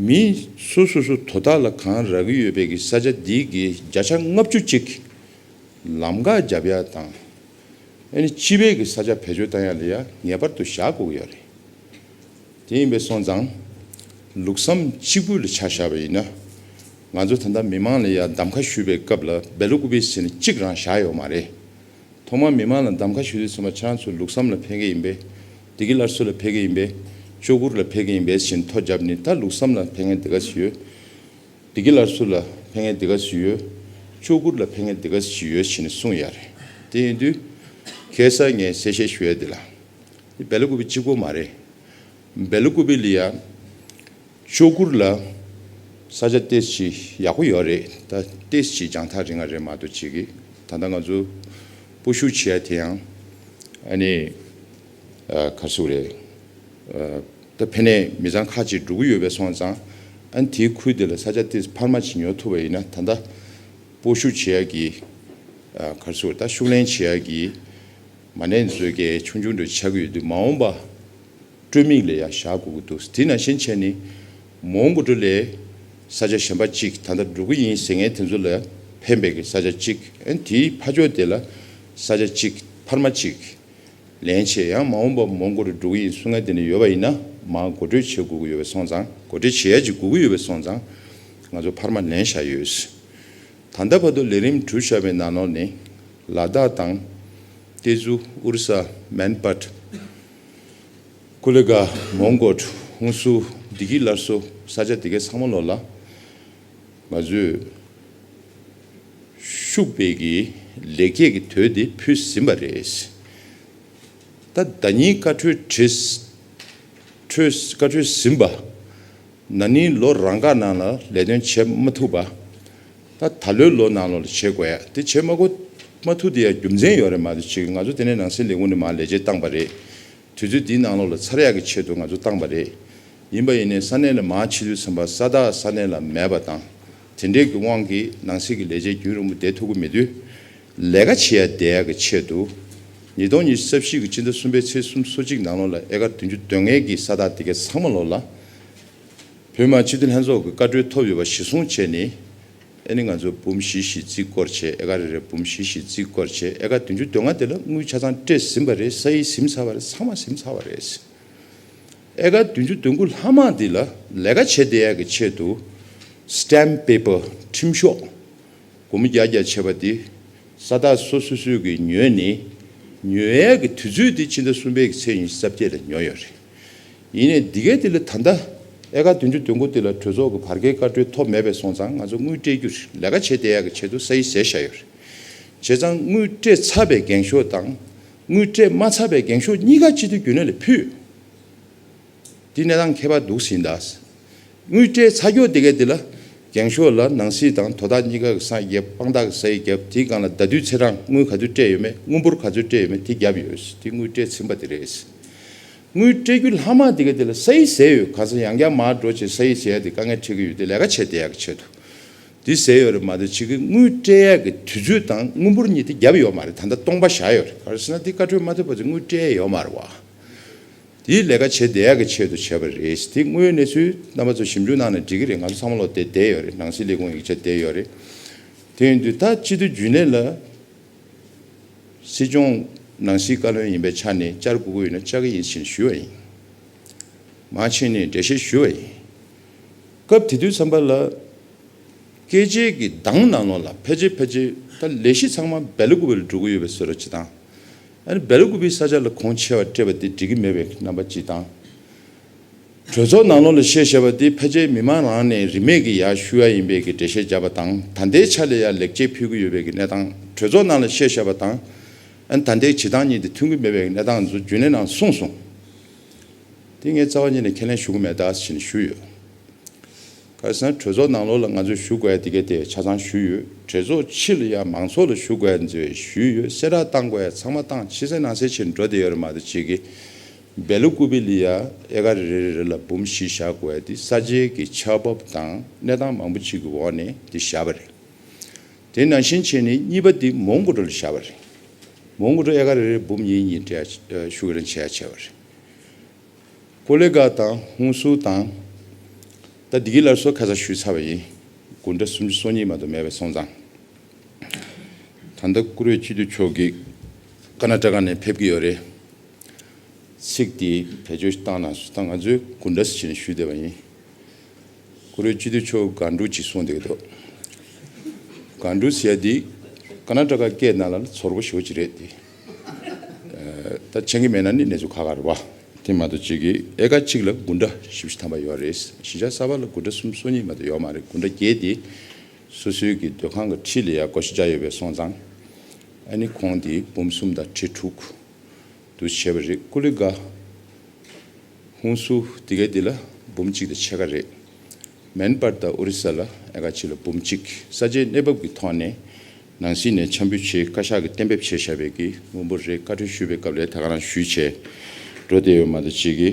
མི་སུ་སུ་སུ་དོ་བདག་ལ་གང་རག་གི་ཡོད་པའི་གི་ས་ཆ་དེའི་གི་བརྒྱ་ཆ་ལྔ་བཅུ་ཅིག་ལམ་འགག་བརྒྱབ་ཡ་དང། ཨེ་ནི་སྤྱི་པའི་གི་ས་ཆ་བེད་སྤྱོད་བཏང་ཡ་ལ་ཡ་ངེས་པར་དུ་བཞག་དགོས་གི་ཡོད་རེད། དེ་ཡིན་པས་སོང་ཙང། ལུགས་བསམ་གཅིག་པུ་ལ་ཆ་བཞག་པ་ཡིན་ན། ང་ཚོ་ད་ལྟ་མི་མང་ལ་ཡང་གདམ་ཁ་ཞུ་བའི་སྐབས་ལ་འབད་ལོ་སྐུ་པའི་ཟིན་གཅིག་རང་བཞག་ཡོག་མ་རེད། ཐོག་མར་མི་མང་ལ་གདམ་ཁ་ཞུ་དུས་ཚང་མ་ཁྱེད་རང་ཚོ་ལུགས་བསམ་ལ་ཕེབས་མཁན་ཡིན་པས། སྡེ་དགེ་སླར་གསོ་ལ་ཕེབས་མཁན་ཡིན་པས། ཅོག་གུར་ལ་ཕེབས་མཁན་ཡིན་པས་བཞིན་ཐོ་བརྒྱབ་ནི་ད་ལུགས་བསམ་ལ་ཕེབས་མཁན་དེ་ག་ཟིག་ཡོད། སྡེ་དགེ་སླར་གསོ་ལ་ཕེབས་མཁན་དེ་ག་ཟིག་ཡོད། ཅོག་གུར་ལ་ཕེབས་མཁན་དེ་ག་ཟིག་ཡོད་བཞིན་གསུངས་ཡག་རེད། དེ་ཡིན་དུས། ཁྱེད་སར་ངས་གསལ་བཤད་ཞུ་ཡ་དེ་ལ། སྦལ་ཀུ་བི་གཅིག་པོ་མ་རེད། སྦལ་ཀུ་བི་ལི་ཡ་ཅོ་གུར་ལ་ས་ཆ་ཏེས་ཅི་ཡག་པོ་ཡོད་རེད་ད་ཏེས་ཅི་རྒྱང་ཐག་རིང་ང་རེད་མ་ཏོ་བྱེད་གི་ད་ལྟ་ང་ཚོ་པོ་ཤུ་ཆི་ཡ་དེ་ཡང་ཨ་ནི་གར་སོ་རེད་ད་ཕན་ནས་མི་ཚང་ཁ་ཅིག་འགྲོ་གི་ཡོད་པས་སོང་ཙང་ཨ་ནི་དེའི་ཁུལ་དེ་ལ་ས་ཆ་ཏེས་འཕར་མ་ཅིག་ཉོ་ཐུབ་པ་ཡིན་ན་ད་ལྟ་པོ་ཤུ་ཆི་ཡ་གི་གར་སོ་ད་ཤུགས་ལན་ཆི་ཡ་གི། མ་ནེ་མཛོད་དགེ་ཆུང་ཆུང་འདྲ་ཆགས་ཀྱི་ཡོད་འདུག་མ་འོངས་པ་སྤྲོད་མིག་ལས་ཡང་བཞག་དགོས་ཀྱི་འདུག་དེས་ན་ཤེས་བྱས་ནི། མོ་མགོ་སྤྲོད་ལས། ས་ཆ་གཞན་པ་གཅིག་ད་ལྟ་འགྲོ་གི་ཡིན་ཟེར་མཁན་དེ་ཚོ་ལ་ཕན་པའི་གི་ས་ཆ་གཅིག་ཨན་དེའི་ཕ་ཕྱོགས་དེ་ལ་ས་ཆ་གཅིག་འཕར་མ་གཅིག། ལན་ཆེ་ཡང་མ་འོངས་པ་མོ་མགོ་སྤྲོད་འགྲོ་གི་ཡིན་གསུང་མཁན་དེ་འདྲ་ཡོད་པ་ཡིན་ན་མ་མགོ་སྤྲོད་བྱེད་དགོས་ཀྱི་ཡོད་པའི་སོང་ཙང་མགོ་སྤྲོད་བྱེད་ཡ་གཅིག་དགོས་ཀྱི་ཡོད་པའི་སོང་ཙང་ང་ཚོ་འཕར་མ་ལེན་བཞག་ཡོད། ད་ལྟ་བར་དུ་ལས་རིམ་གྲུབ་བཞག་པའི་ནང་ནོར་ནི། ལ་དྭགས་དང། ཏེ་ཛུ། ཨུར་ས། མན་པཱཏ། ཀུ་ལི་གྷ། མོང་གོལ། ཧུང་སུ། འདི་གའི་སླར་གསོ། ས་ཆ་དེ་གའི་ཚང་མ་ལོག་ལ། ང་ཚོས། ཤུགས་སྤེལ་གྱིས་ལེགས་སྐྱེས་ཀྱི་དོད་དེ་ཕུལ་ཟིན་པ་རེད། ད་ལྟ་ཉིན་བཀའ་འཁྲོལ་བཀའ་འཁྲོལ་ཟིན་པ། ན་ནིང་ལོ་རང་འགའ་ནང་ལ་ལས་དོན་བྱེད་མ་ཐུབ་པ། ད་ད་ལོའི་ལོ་ནང་ལོ་ལ་བྱེད་དགོས་ཡ་དེ་བྱེད་མ་གོ་མ་ཐུག་དེ་ཡ་རྒྱུ་མཚན་ཡོད་རེད་མ་དེ་བྱེད་ང་ཚོ་དེ་ནས་ནང་སྲིད་ལས་ཁུངས་ནས་མར་ལས་བྱེད་བཏང་པ་རེད་དུས་ཚོད་དེའི་ནང་ལོ་ལ་ཚར་ཡག་གི་ཆེད་དུ་ང་ཚོ་བཏང་པ་རེད་ཡིན་པ་ཡིན་ནས་ས་གནས་ལ་མར་ཕྱི་དུས་ཚན་པ་ས་བདག་ས་གནས་ལ་མེད་པ་དང་དེ་འདྲས་ཀྱི་དབང་གིས་ནང་སྲིད་ཀྱི་ལས་བྱེད་རྒྱུན་རིང་པོ་བསྡད་ཐུབ་ཀྱི་མེད་དུས་ལས་ཀ་བྱེད་ཡ་བསྡད་ཡག་གི་ཆེད་དུ་ཉིས་སྟོང་ཉི་ཤུ་རྩ་བཞི་གི་སྤྱི་ཟླ་གསུམ་པའི་ཚེས་གསུམ་སོ་གཅིག་ནང་ལོ་ལ་ཨེ་ཀར་བདུན་ཅུ་དོན་ལྔའི་གིས་ས་བདག་དེ་གས་ཚང་མ་ལོ་ལ། བོད་དམངས་སྤྱི་འཐུས་ལྷན་ཚོགས་ཀྱི་བཀའ་འཁྲོལ་ཐོབ་ཡོད་པ་གཞི་བཟུང་བྱས་ནས། ཨེ་ནི་ང་ཚོས་འབུམ་བཞི་བཞི་བརྩིགས་སྐོར་བྱས་ཨེ་ཀ་རེ་རེ་འབུམ་བཞི་བཞི་བརྩིགས་སྐོར་བྱས་ཨེ་ཀ་བདུན་ཅུ་དོན་ལྔ་དེ་ལ་དངུལ་ཆ་ཚང་སྤྲད་ཟིན་པ་རེད་ས་ཡིས་ཟིམ་ཚར་བ་རེད་ཚང་མ་ཟིམ་ཚར་བ་རེད། ཨེ་ཀ་བདུན་ཅུ་དོན་དགུ་ལྷག་མ་འདི་ལ་ལས་ཀ་བྱེད་བདེ་ཡག་གི་ཆེད་དུ Stamp Paper ཁྲིམས་ཤོག་སྒོར་མོ་བརྒྱ་བརྒྱ་བྱས་པ་འདི་ས་ཐག་སོ་སོ་སོས་ཀྱིས་ཉོས་ནས་ཉོས་ཡག་གི་དུས་ཚོད་འདི་ཕྱི་ཟླ་གསུམ་པའི་གི་ཚེས་ཉི་ཤུ་རྩ་བརྒྱད་ལ་ཉོས་ཡོད་རེད། ཡིན་ནས་འདི་གའི་དེ་ལས་ད་ལྟ་ཨེ་ཀ་བདུན་ཅུ་དོན་དགུ་དེ་ལ་གྲོས་ཚོགས་ཀྱི་བར་བརྒལ་བཀའ་འཁྲོལ་ཐོབ་མེད་པས་སོང་ཙང་ང་ཚོ་དངུལ་སྤྲད་རྒྱུར་ལས་ཀ་བྱེད་བསྡད་ཡག་གི་ཆེད་དུ་ས་ཡི་ཟས་བཞག་ཡོད་རེད། བྱས་ཙང་དངུལ་སྤྲད་ཚར་བའི་འགེངས་ཤོག་དང་དངུལ་སྤྲད་མ་ཚར་བའི་འགེངས་ཤོག་གཉིས་ཀ་སྤྱི་འཐུས་རྒྱུན་ལས་ལ་ཕུལ། འདི་གནས་སྟངས་ཁྱད་པར་འདུག་ཟིན་གདའ། དངུལ་སྤྲད་ཚ་སྐྱོ་དེ་གས་དེ་ལ། རྒྱང་ཤོག་ལ་ནང་སྲིད་དང་དོ་བདག་གཉིས་ཀ་གི་སངས་རྒྱས་དཔང་རྟགས་ཀྱི་ས་ཡིག་བརྒྱབ་དེའི་སྒང་ལ་ཟླ་དུས་ཚེས་གྲངས་དངུལ་ག་ཚོད་སྤྲད་ཡོད་མེད་དངུལ་འབོར་ག་ཚོད་སྤྲད་ཡོད་མེད་དེ་བརྒྱབ་ཡོད་དེ་དངུལ་སྤྲད་ཚིམ་པ་དེ་རེད། དངུལ་སྤྲད་རྒྱུ་ལྷག་མ་དེ་གས་དེ་ལ་ས་ཡིག་ཟེར་ཡོད་གང་ས་ཡང་བསྐྱར་མར་འགྲོ་བྱེད་ས་ཡིག་བྱེད་ཡ་དེ་དཀའ་ངལ་འཕྲད་ཀྱི་ཡོད་དེ་ལས་ཀ་བྱེད་དེ་ཡག་གི་ཆེད་དུ་དེ་ཟེར་ཡོད་རེད་མ་འདོད་ཕྱི་གི་དངུལ་སྤྲད་ཡ་གི་དུས་ཚོད་དང་དངུལ་འབོར་གཉིས་དེ་བརྒྱབ་ཡོད་མ་རེད་ད་ལྟ་སྟོང་པ་བཞག་ཡོད་རེད་ག་རེ་ཟེར་ན་དེ་བཀའ་འཁྲོལ་མ་ཐོབ་པ་ཚོས་དངུལ་སྤྲད་ཡ་ཡོད་མ་རེད་བ། དེའི་ལས་ཀ་བྱེད་བདེ་ཡག་གི་ཆེད་དུ་བྱས་པ་རེད་དེ་དངོས་ཡོད་གནས་ཚུལ་རྣམ་པ་ཚོ་ཞིབ་འཇུག་གནང་ནས་འགྲིག་གི་རེད་ང་ཚོ་ཚང་མ་བློ་དེ་བདེ་ཡོད་རེད་ནང་སྲིད་ལས་ཁུངས་ཡིག་ཆ་བདེ་ཡོད་རེད་དེ་ཡིན་དུས་ད་སྤྱི་འཐུས་རྒྱུན་ལས་ལ་སྲིད་སྐྱོང་ནང་སྲིད་བཀའ་བློན་ཡིན་པའི་ཆ་ནས་བཅར་དགོས་ཀྱི་ཡོད་ན་བཅར་གི་ཡིན་ཞེས་ཞུས་བ་ཡིན་མ་ཕྱིན་ནས་འགྲེལ་བཤད་ཞུས་བ་ཡིན་སྐབས་དེ་དུས་བསམ་པ་ལ་སྐད་ཆའི་གི་གདངས་ནང་ལོག་ལ་ཕལ་ཆེར་ཕལ་ཆེར་ད་ལས་གཞི་ཚང་མ་བལ་ལུགས་པ་ལ་འགྲོ་གི་ཡོད་པའི་ཟོལ་ར་སྤྱི་སྟངས་སྦལ་རི་དགུ་པའི་ས་ཆ་ལ་ཁོང་ཆེ་བ་སྤྲད་པ་དེ་འགྲིག་གི་མེད་པའི་རྣམ་པ་སྤྱི་དང། གྲོས་ཚོགས་ནང་ལོགས་ལ་བཤད་བཤད་པ་དེ་ཕལ་ཆེར་མི་མང་རང་ནས་རིན་མེད་ཀི་ཡ་ཤུ་ཡ་ཡིན་པས་ཀི་འགྲེལ་བཤད་བརྒྱབ་པ་དང་ད་ལྟའི་ཆ་ལས་ཡར་ལེགས་སྐྱེས་ཕུལ་གི་ཡོད་པའི་ཀི་གནས་སྟངས་གྲོས་ཚོགས་ནང་ལ་བཤད་བཤད་པ་དང་ད་ལྟའི་བྱེད་སྟངས་གཉིས་དེ་མཐུན་གི་མེད་པའི་ཀི་གནས་སྟངས་འཛུ་རྒྱུན་ལས་ནང་གསུངས་སོང། དེ་ངས་རྩ་བ་ཉིད་ནས་ཁས་ལེན་ཞུ་གི་མེད་ད་ཞེས་ཞུས་ཡོད། ཁ་སང་གྲོས་ཚོགས་ནང་ལོགས་ལ་ང་ཚོས་ཞུ་དགོས་ཡ་དེ་ག་དེ་ཆ་ཚང་ཞུས་ཡོད་གྲོས་ཚོགས་ཕྱི་ལ་ཡ་མང་ཚོགས་ལ་ཞུ་དགོས་ཡ་ཚོས་ཞུས་ཡོད་གསལ་བསྒྲགས་བཏང་དགོས་ཡ་ཚང་མ་བཏང་ཕྱི་གསལ་ནང་གསལ་བྱེད་འགྲོ་དེ་ཡོད་རེད་མ་གཏོགས་བྱེད་ཀྱི་འབད་ལོ་ཀུ་པི་ལི་ཡ་ཨེ་ཀ་རེ་རེ་རེ་རེ་ལ་འབུམ་བཞི་བཞག་དགོས་ཡ་དེ་ས་ཆའི་གི་ཆ་བབ་དང་གནས་སྟངས་མང་པོ་ཅིག་གི་འོག་ནས་དེ་བཞག་པ་རེད་དེ་ནང་བཞིན་བྱེད་ནས་གཉིས་པ་དེ་མོང་གོ་ཀྲོ་ལ་བཞག་པ་རེད་མོང་གོ་ཀྲོ་ཨེ་ཀ་རེ་རེ་འབུམ་གཉིས་གཉིས་འབྲེལ་ཡ་ཞུ་གི་རང་བྱེད་ཡ་བྱས་པ་རེད། ཀུ་ལེ་ཀ་དང་ཧུན་སུར་དང། ད་འདི་གི་སླར་གསོ་ཁ་ཚ་ཞུས་ཚར་བ་ཡིན། དགུན་གྲྭ་སུམ་ཅུ་སོ་གཉིས་མ་དོ་མེད་པའི་སོང་ཙང། ད་ལྟ་བཀུར་འོས་སྤྱི་འཐུས་མཆོག་གིས་ཀ་ན་ཀྲ་ཀ་ནས་ཕེབས་ཀྱི་ཡོད་རེད། ཚིག་དེ་བེད་སྤྱོད་བཏང་ན་སུ་ད་ང་ཚོས་དགུན་གྲྭ་ཟེར་ནས་ཞུས་བསྡད་པ་ཡིན། བཀུར་འོས་སྤྱི་འཐུས་མཆོག་དགའ་འབྲུ་ཅིག་གསུངས་བསྡད་འདུག་དགའ་འབྲུ་ཟེར་ཡ་འདི་ཀ་ན་ཀྲ་ཀ་སྐད་ནང་ལ་ཚོར་བ་ཞོ་ཅིག་རེད་དེ། ད་མཆན་གྱི་མེད་ན་ནི་གནས་ཚུལ་ཁ་ཁར་བ། དེ་མ་གཏོགས་གཅིག་གིས་ཨེ་ཀ་གཅིག་ལ་དགུན་སྒྲ་བཞི་བཞི་ཐམ་པ་ཡོད་རེད། བཞི་ཆ་གསར་པ་ལ་དགུན་སྒྲ་གསུམ་སོ་གཉིས་མ་གཏོགས་ཡོད་མ་རེད་དགུན་སྒྲ་བརྒྱད་དེ། སོ་སོའི་གི་སྡོད་ཁང་གི་ཁྲི་ལ་ཡང་སྒོ་བཞི་བརྒྱ་ཡོད་པའི་སོང་ཙང། ཨ་ནི་ཁོང་དེ་འབུམ་གསུམ་དང་ཁྲི་དྲུག། དུ་བྱེད་པ་རེད་ཀུ་ལི་དགའ། ཧུན་སུ་དེ་གའི་དེ་ལ་འབུམ་གཅིག་དང་ཕྱེད་ཀ་རེད། མེན་པར་དང་ཨོ་རི་ས་ལ་ཨེ་ཀ་གཅིག་ལ་འབུམ་གཅིག་ས་ཆའི་གནས་བབ་ཀྱི་ཐོག་ནས་ནང་སྲིད་ནས་ཆམ་ཕུ་ཆེའི་བཀའ་ཤག་གི་གཏན་འབེབས་བྱས་བཞག་པའི་གི་དངུལ་འབོར་རེ་བཀའ་ཁྲོལ་ཞུས་པའི་སྐབས་ལས་ད་ག་རང་ཞུས་བྱས་འགྲོ་བསྡད་ཡོད་མ་ད་ཅིག་གི་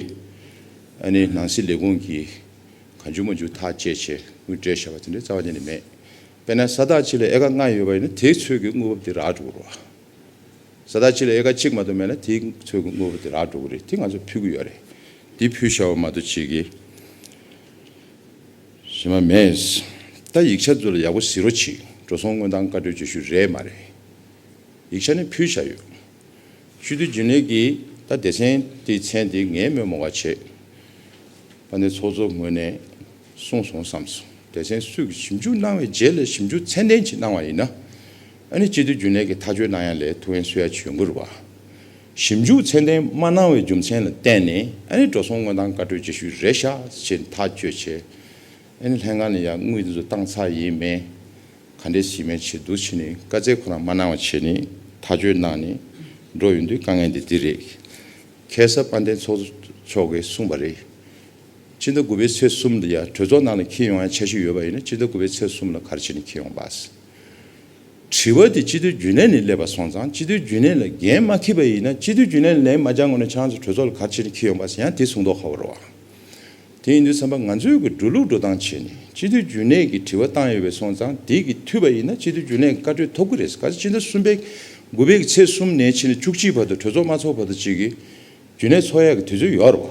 ཨ་ནི་ནང་སྲིད་ལས་ཁུངས་ཀྱིས་ག་འཇུག་མ་འཇུག་ཐག་བཅད་བྱས་དངུལ་སྤྲད་བཞག་པ་དེ་འདྲའི་རྩ་བ་དེ་ནི་མེད་དཔེར་ན་ས་ཐག་གཅིག་ལ་ཨེ་ཀ་ལྔ་ཡོད་པ་ཡིན་ན་དེའི་ཚོད་ཀྱི་དངུལ་བབ་དེ་རག་འགྲོ་གི་རོ། ས་ཐག་གཅིག་ལ་ཨེ་ཀ་གཅིག་མ་ད་མེད་ན་དེའི་ཚོད་ཀྱི་དངུལ་བབ་དེ་རག་འགྲོ་གི་རེད་དེ་ང་ཚོ་ཕུལ་གི་ཡོད་རེད་དེ་ཕུལ་བཞག་པ་མ་ད་ཅིག་གི། གཞི་མ་མེད། ད་ཡིག་ཆ་འདི་ལ་ཡག་པོ་གཟིགས་རོ་ཆིག་འགྲོ་སོང་དངོས་དང་བཀའ་འཁྲོལ་བརྗོད་ཤུལ་རེད་མ་རེད། ཡིག་ཆ་ནི་ཕུལ་བཞག་ཡོད། ཤུལ་དུས་རྒྱུན་ལས་ཀྱི་ད་སྡེ་ཚན་དེའི་མཚན་དེ་ངས་དམོད་མོ་ག་བྱེད། པ་ནས་ཚོགས་གཙོ་ངོས་ནས་གསུངས་སོང་བསམ་སོང་སྡེ་ཚན་སུས་ཀྱི་ཞིབ་འཇུག་གནང་བའི་རྗེས་ལས་ཞིབ་འཇུག་ཚན་ལྡན་གྱིས་གནང་བ་ཡིན་ན། ཨ་ནི་སྤྱི་འཐུས་རྒྱུན་ལས་ཀྱི་ཐག་གཅོད་གནང་ཡ་ལས་ཐུ་ཝན་སུ་ཡ་བྱོས་འགུར་བ། ཞིབ་འཇུག་ཚད་ལྡན་མ་གནང་བའི་རྒྱུ་མཚན་ལ་བརྟེན་ནས་ཨ་རིའི་འགྲོ་སོང་དངོས་དང་བཀའ་གྲོས་རྗེས་ཤུལ་རེད་ཤག་ཅེས་ཐག་གཅོད་བྱས། ཨ་རིའི་ལྷན་ཁང་ནས་ཡང་དངུལ་དེ་ཚོ་བཏང་ཚར་ཡིན་མེད་ག་འདྲས་བྱེད་མིན་བྱེད་འདུག་བྱས་ནས་བཀའ་བསྩལ་ཁོ་རང་མ་གནང་བ་བྱས་ནས་ཐག་གཅོད་གནང་ནས་འགྲོ་ཡོང་དུས་དཀའ་ངལ་འདི་འདི་རེད། གྷལ་གསར་དཔལ་ལྡན་ཚོགས་གཙོ་མཆོག་གིས་གསུངས་པ་རེད། སྤྱི་ཟླ་དགུ་པའི་ཚེས་གསུམ་དུ་ཡང་གྲོས་ཚོགས་ནང་ལ་འཁྱེར་ཡོང་ཡ་ཆ་ཞིག་ཡོད་པ་ཡིན་ན་སྤྱི་ཟླ་དགུ་པའི་ཚེས་གསུམ་ལ་གར་བྱས་ནས་འཁྱེར་ཡོང་པ། དྲི་བ་དེ་སྤྱི་འཐུས་རྒྱུན་ལས་ནས་སླེབས་པ་སོང་ཙང་སྤྱི་འཐུས་རྒྱུན་ལས་ལ་འགན་མ་འཁྱེར་པ་ཡིན་ན་སྤྱི་འཐུས་རྒྱུན་ལས་ལ་ལན་མ་བརྒྱང་དགོས་ན་ཆང་ཚེ་གྲོས་ཚོགས་ལ་གར་ཕྱིན་ནས་འཁྱེར་ཡོང་པ་ཟེར་ཡང་དེ་གསུང་མདོག་ཁ་བོ་རེད་བ། དེ་ཡིན་དུས་བསམ་པ་ང་ཚོས་གི་འགྲོ་ལུགས་འགྲོ་སྟངས་བྱས་ནས་སྤྱི་འཐུས་རྒྱུན་ལས་ཀྱི་དྲི་བ་བཏང་ཡོད་པས་སོང་ཙང་དེ་གི་འཐུས་པ་ཡིན་ན་སྤྱི་འཐུས་རྒྱུན་ལས་ཀྱི་བཀའ་གྲོས་ཐོབ་གི་རེད་ག་ཚེ་སྤྱི་ཟླ་གསུམ་པའི་དགུ་པའི་གི་ཚེས་གསུམ་ནས་ཕྱིན་ནས་བཅུ་གཅིག་བར་དུ་གྲོས་ཚོགས་མ་ཚོགས་བར་དུ་གཅིག་གི་རྒྱུན་ལས་ཚོགས་ཡག་གི་དུས་ཚོད་ཡོད་རེད་བ།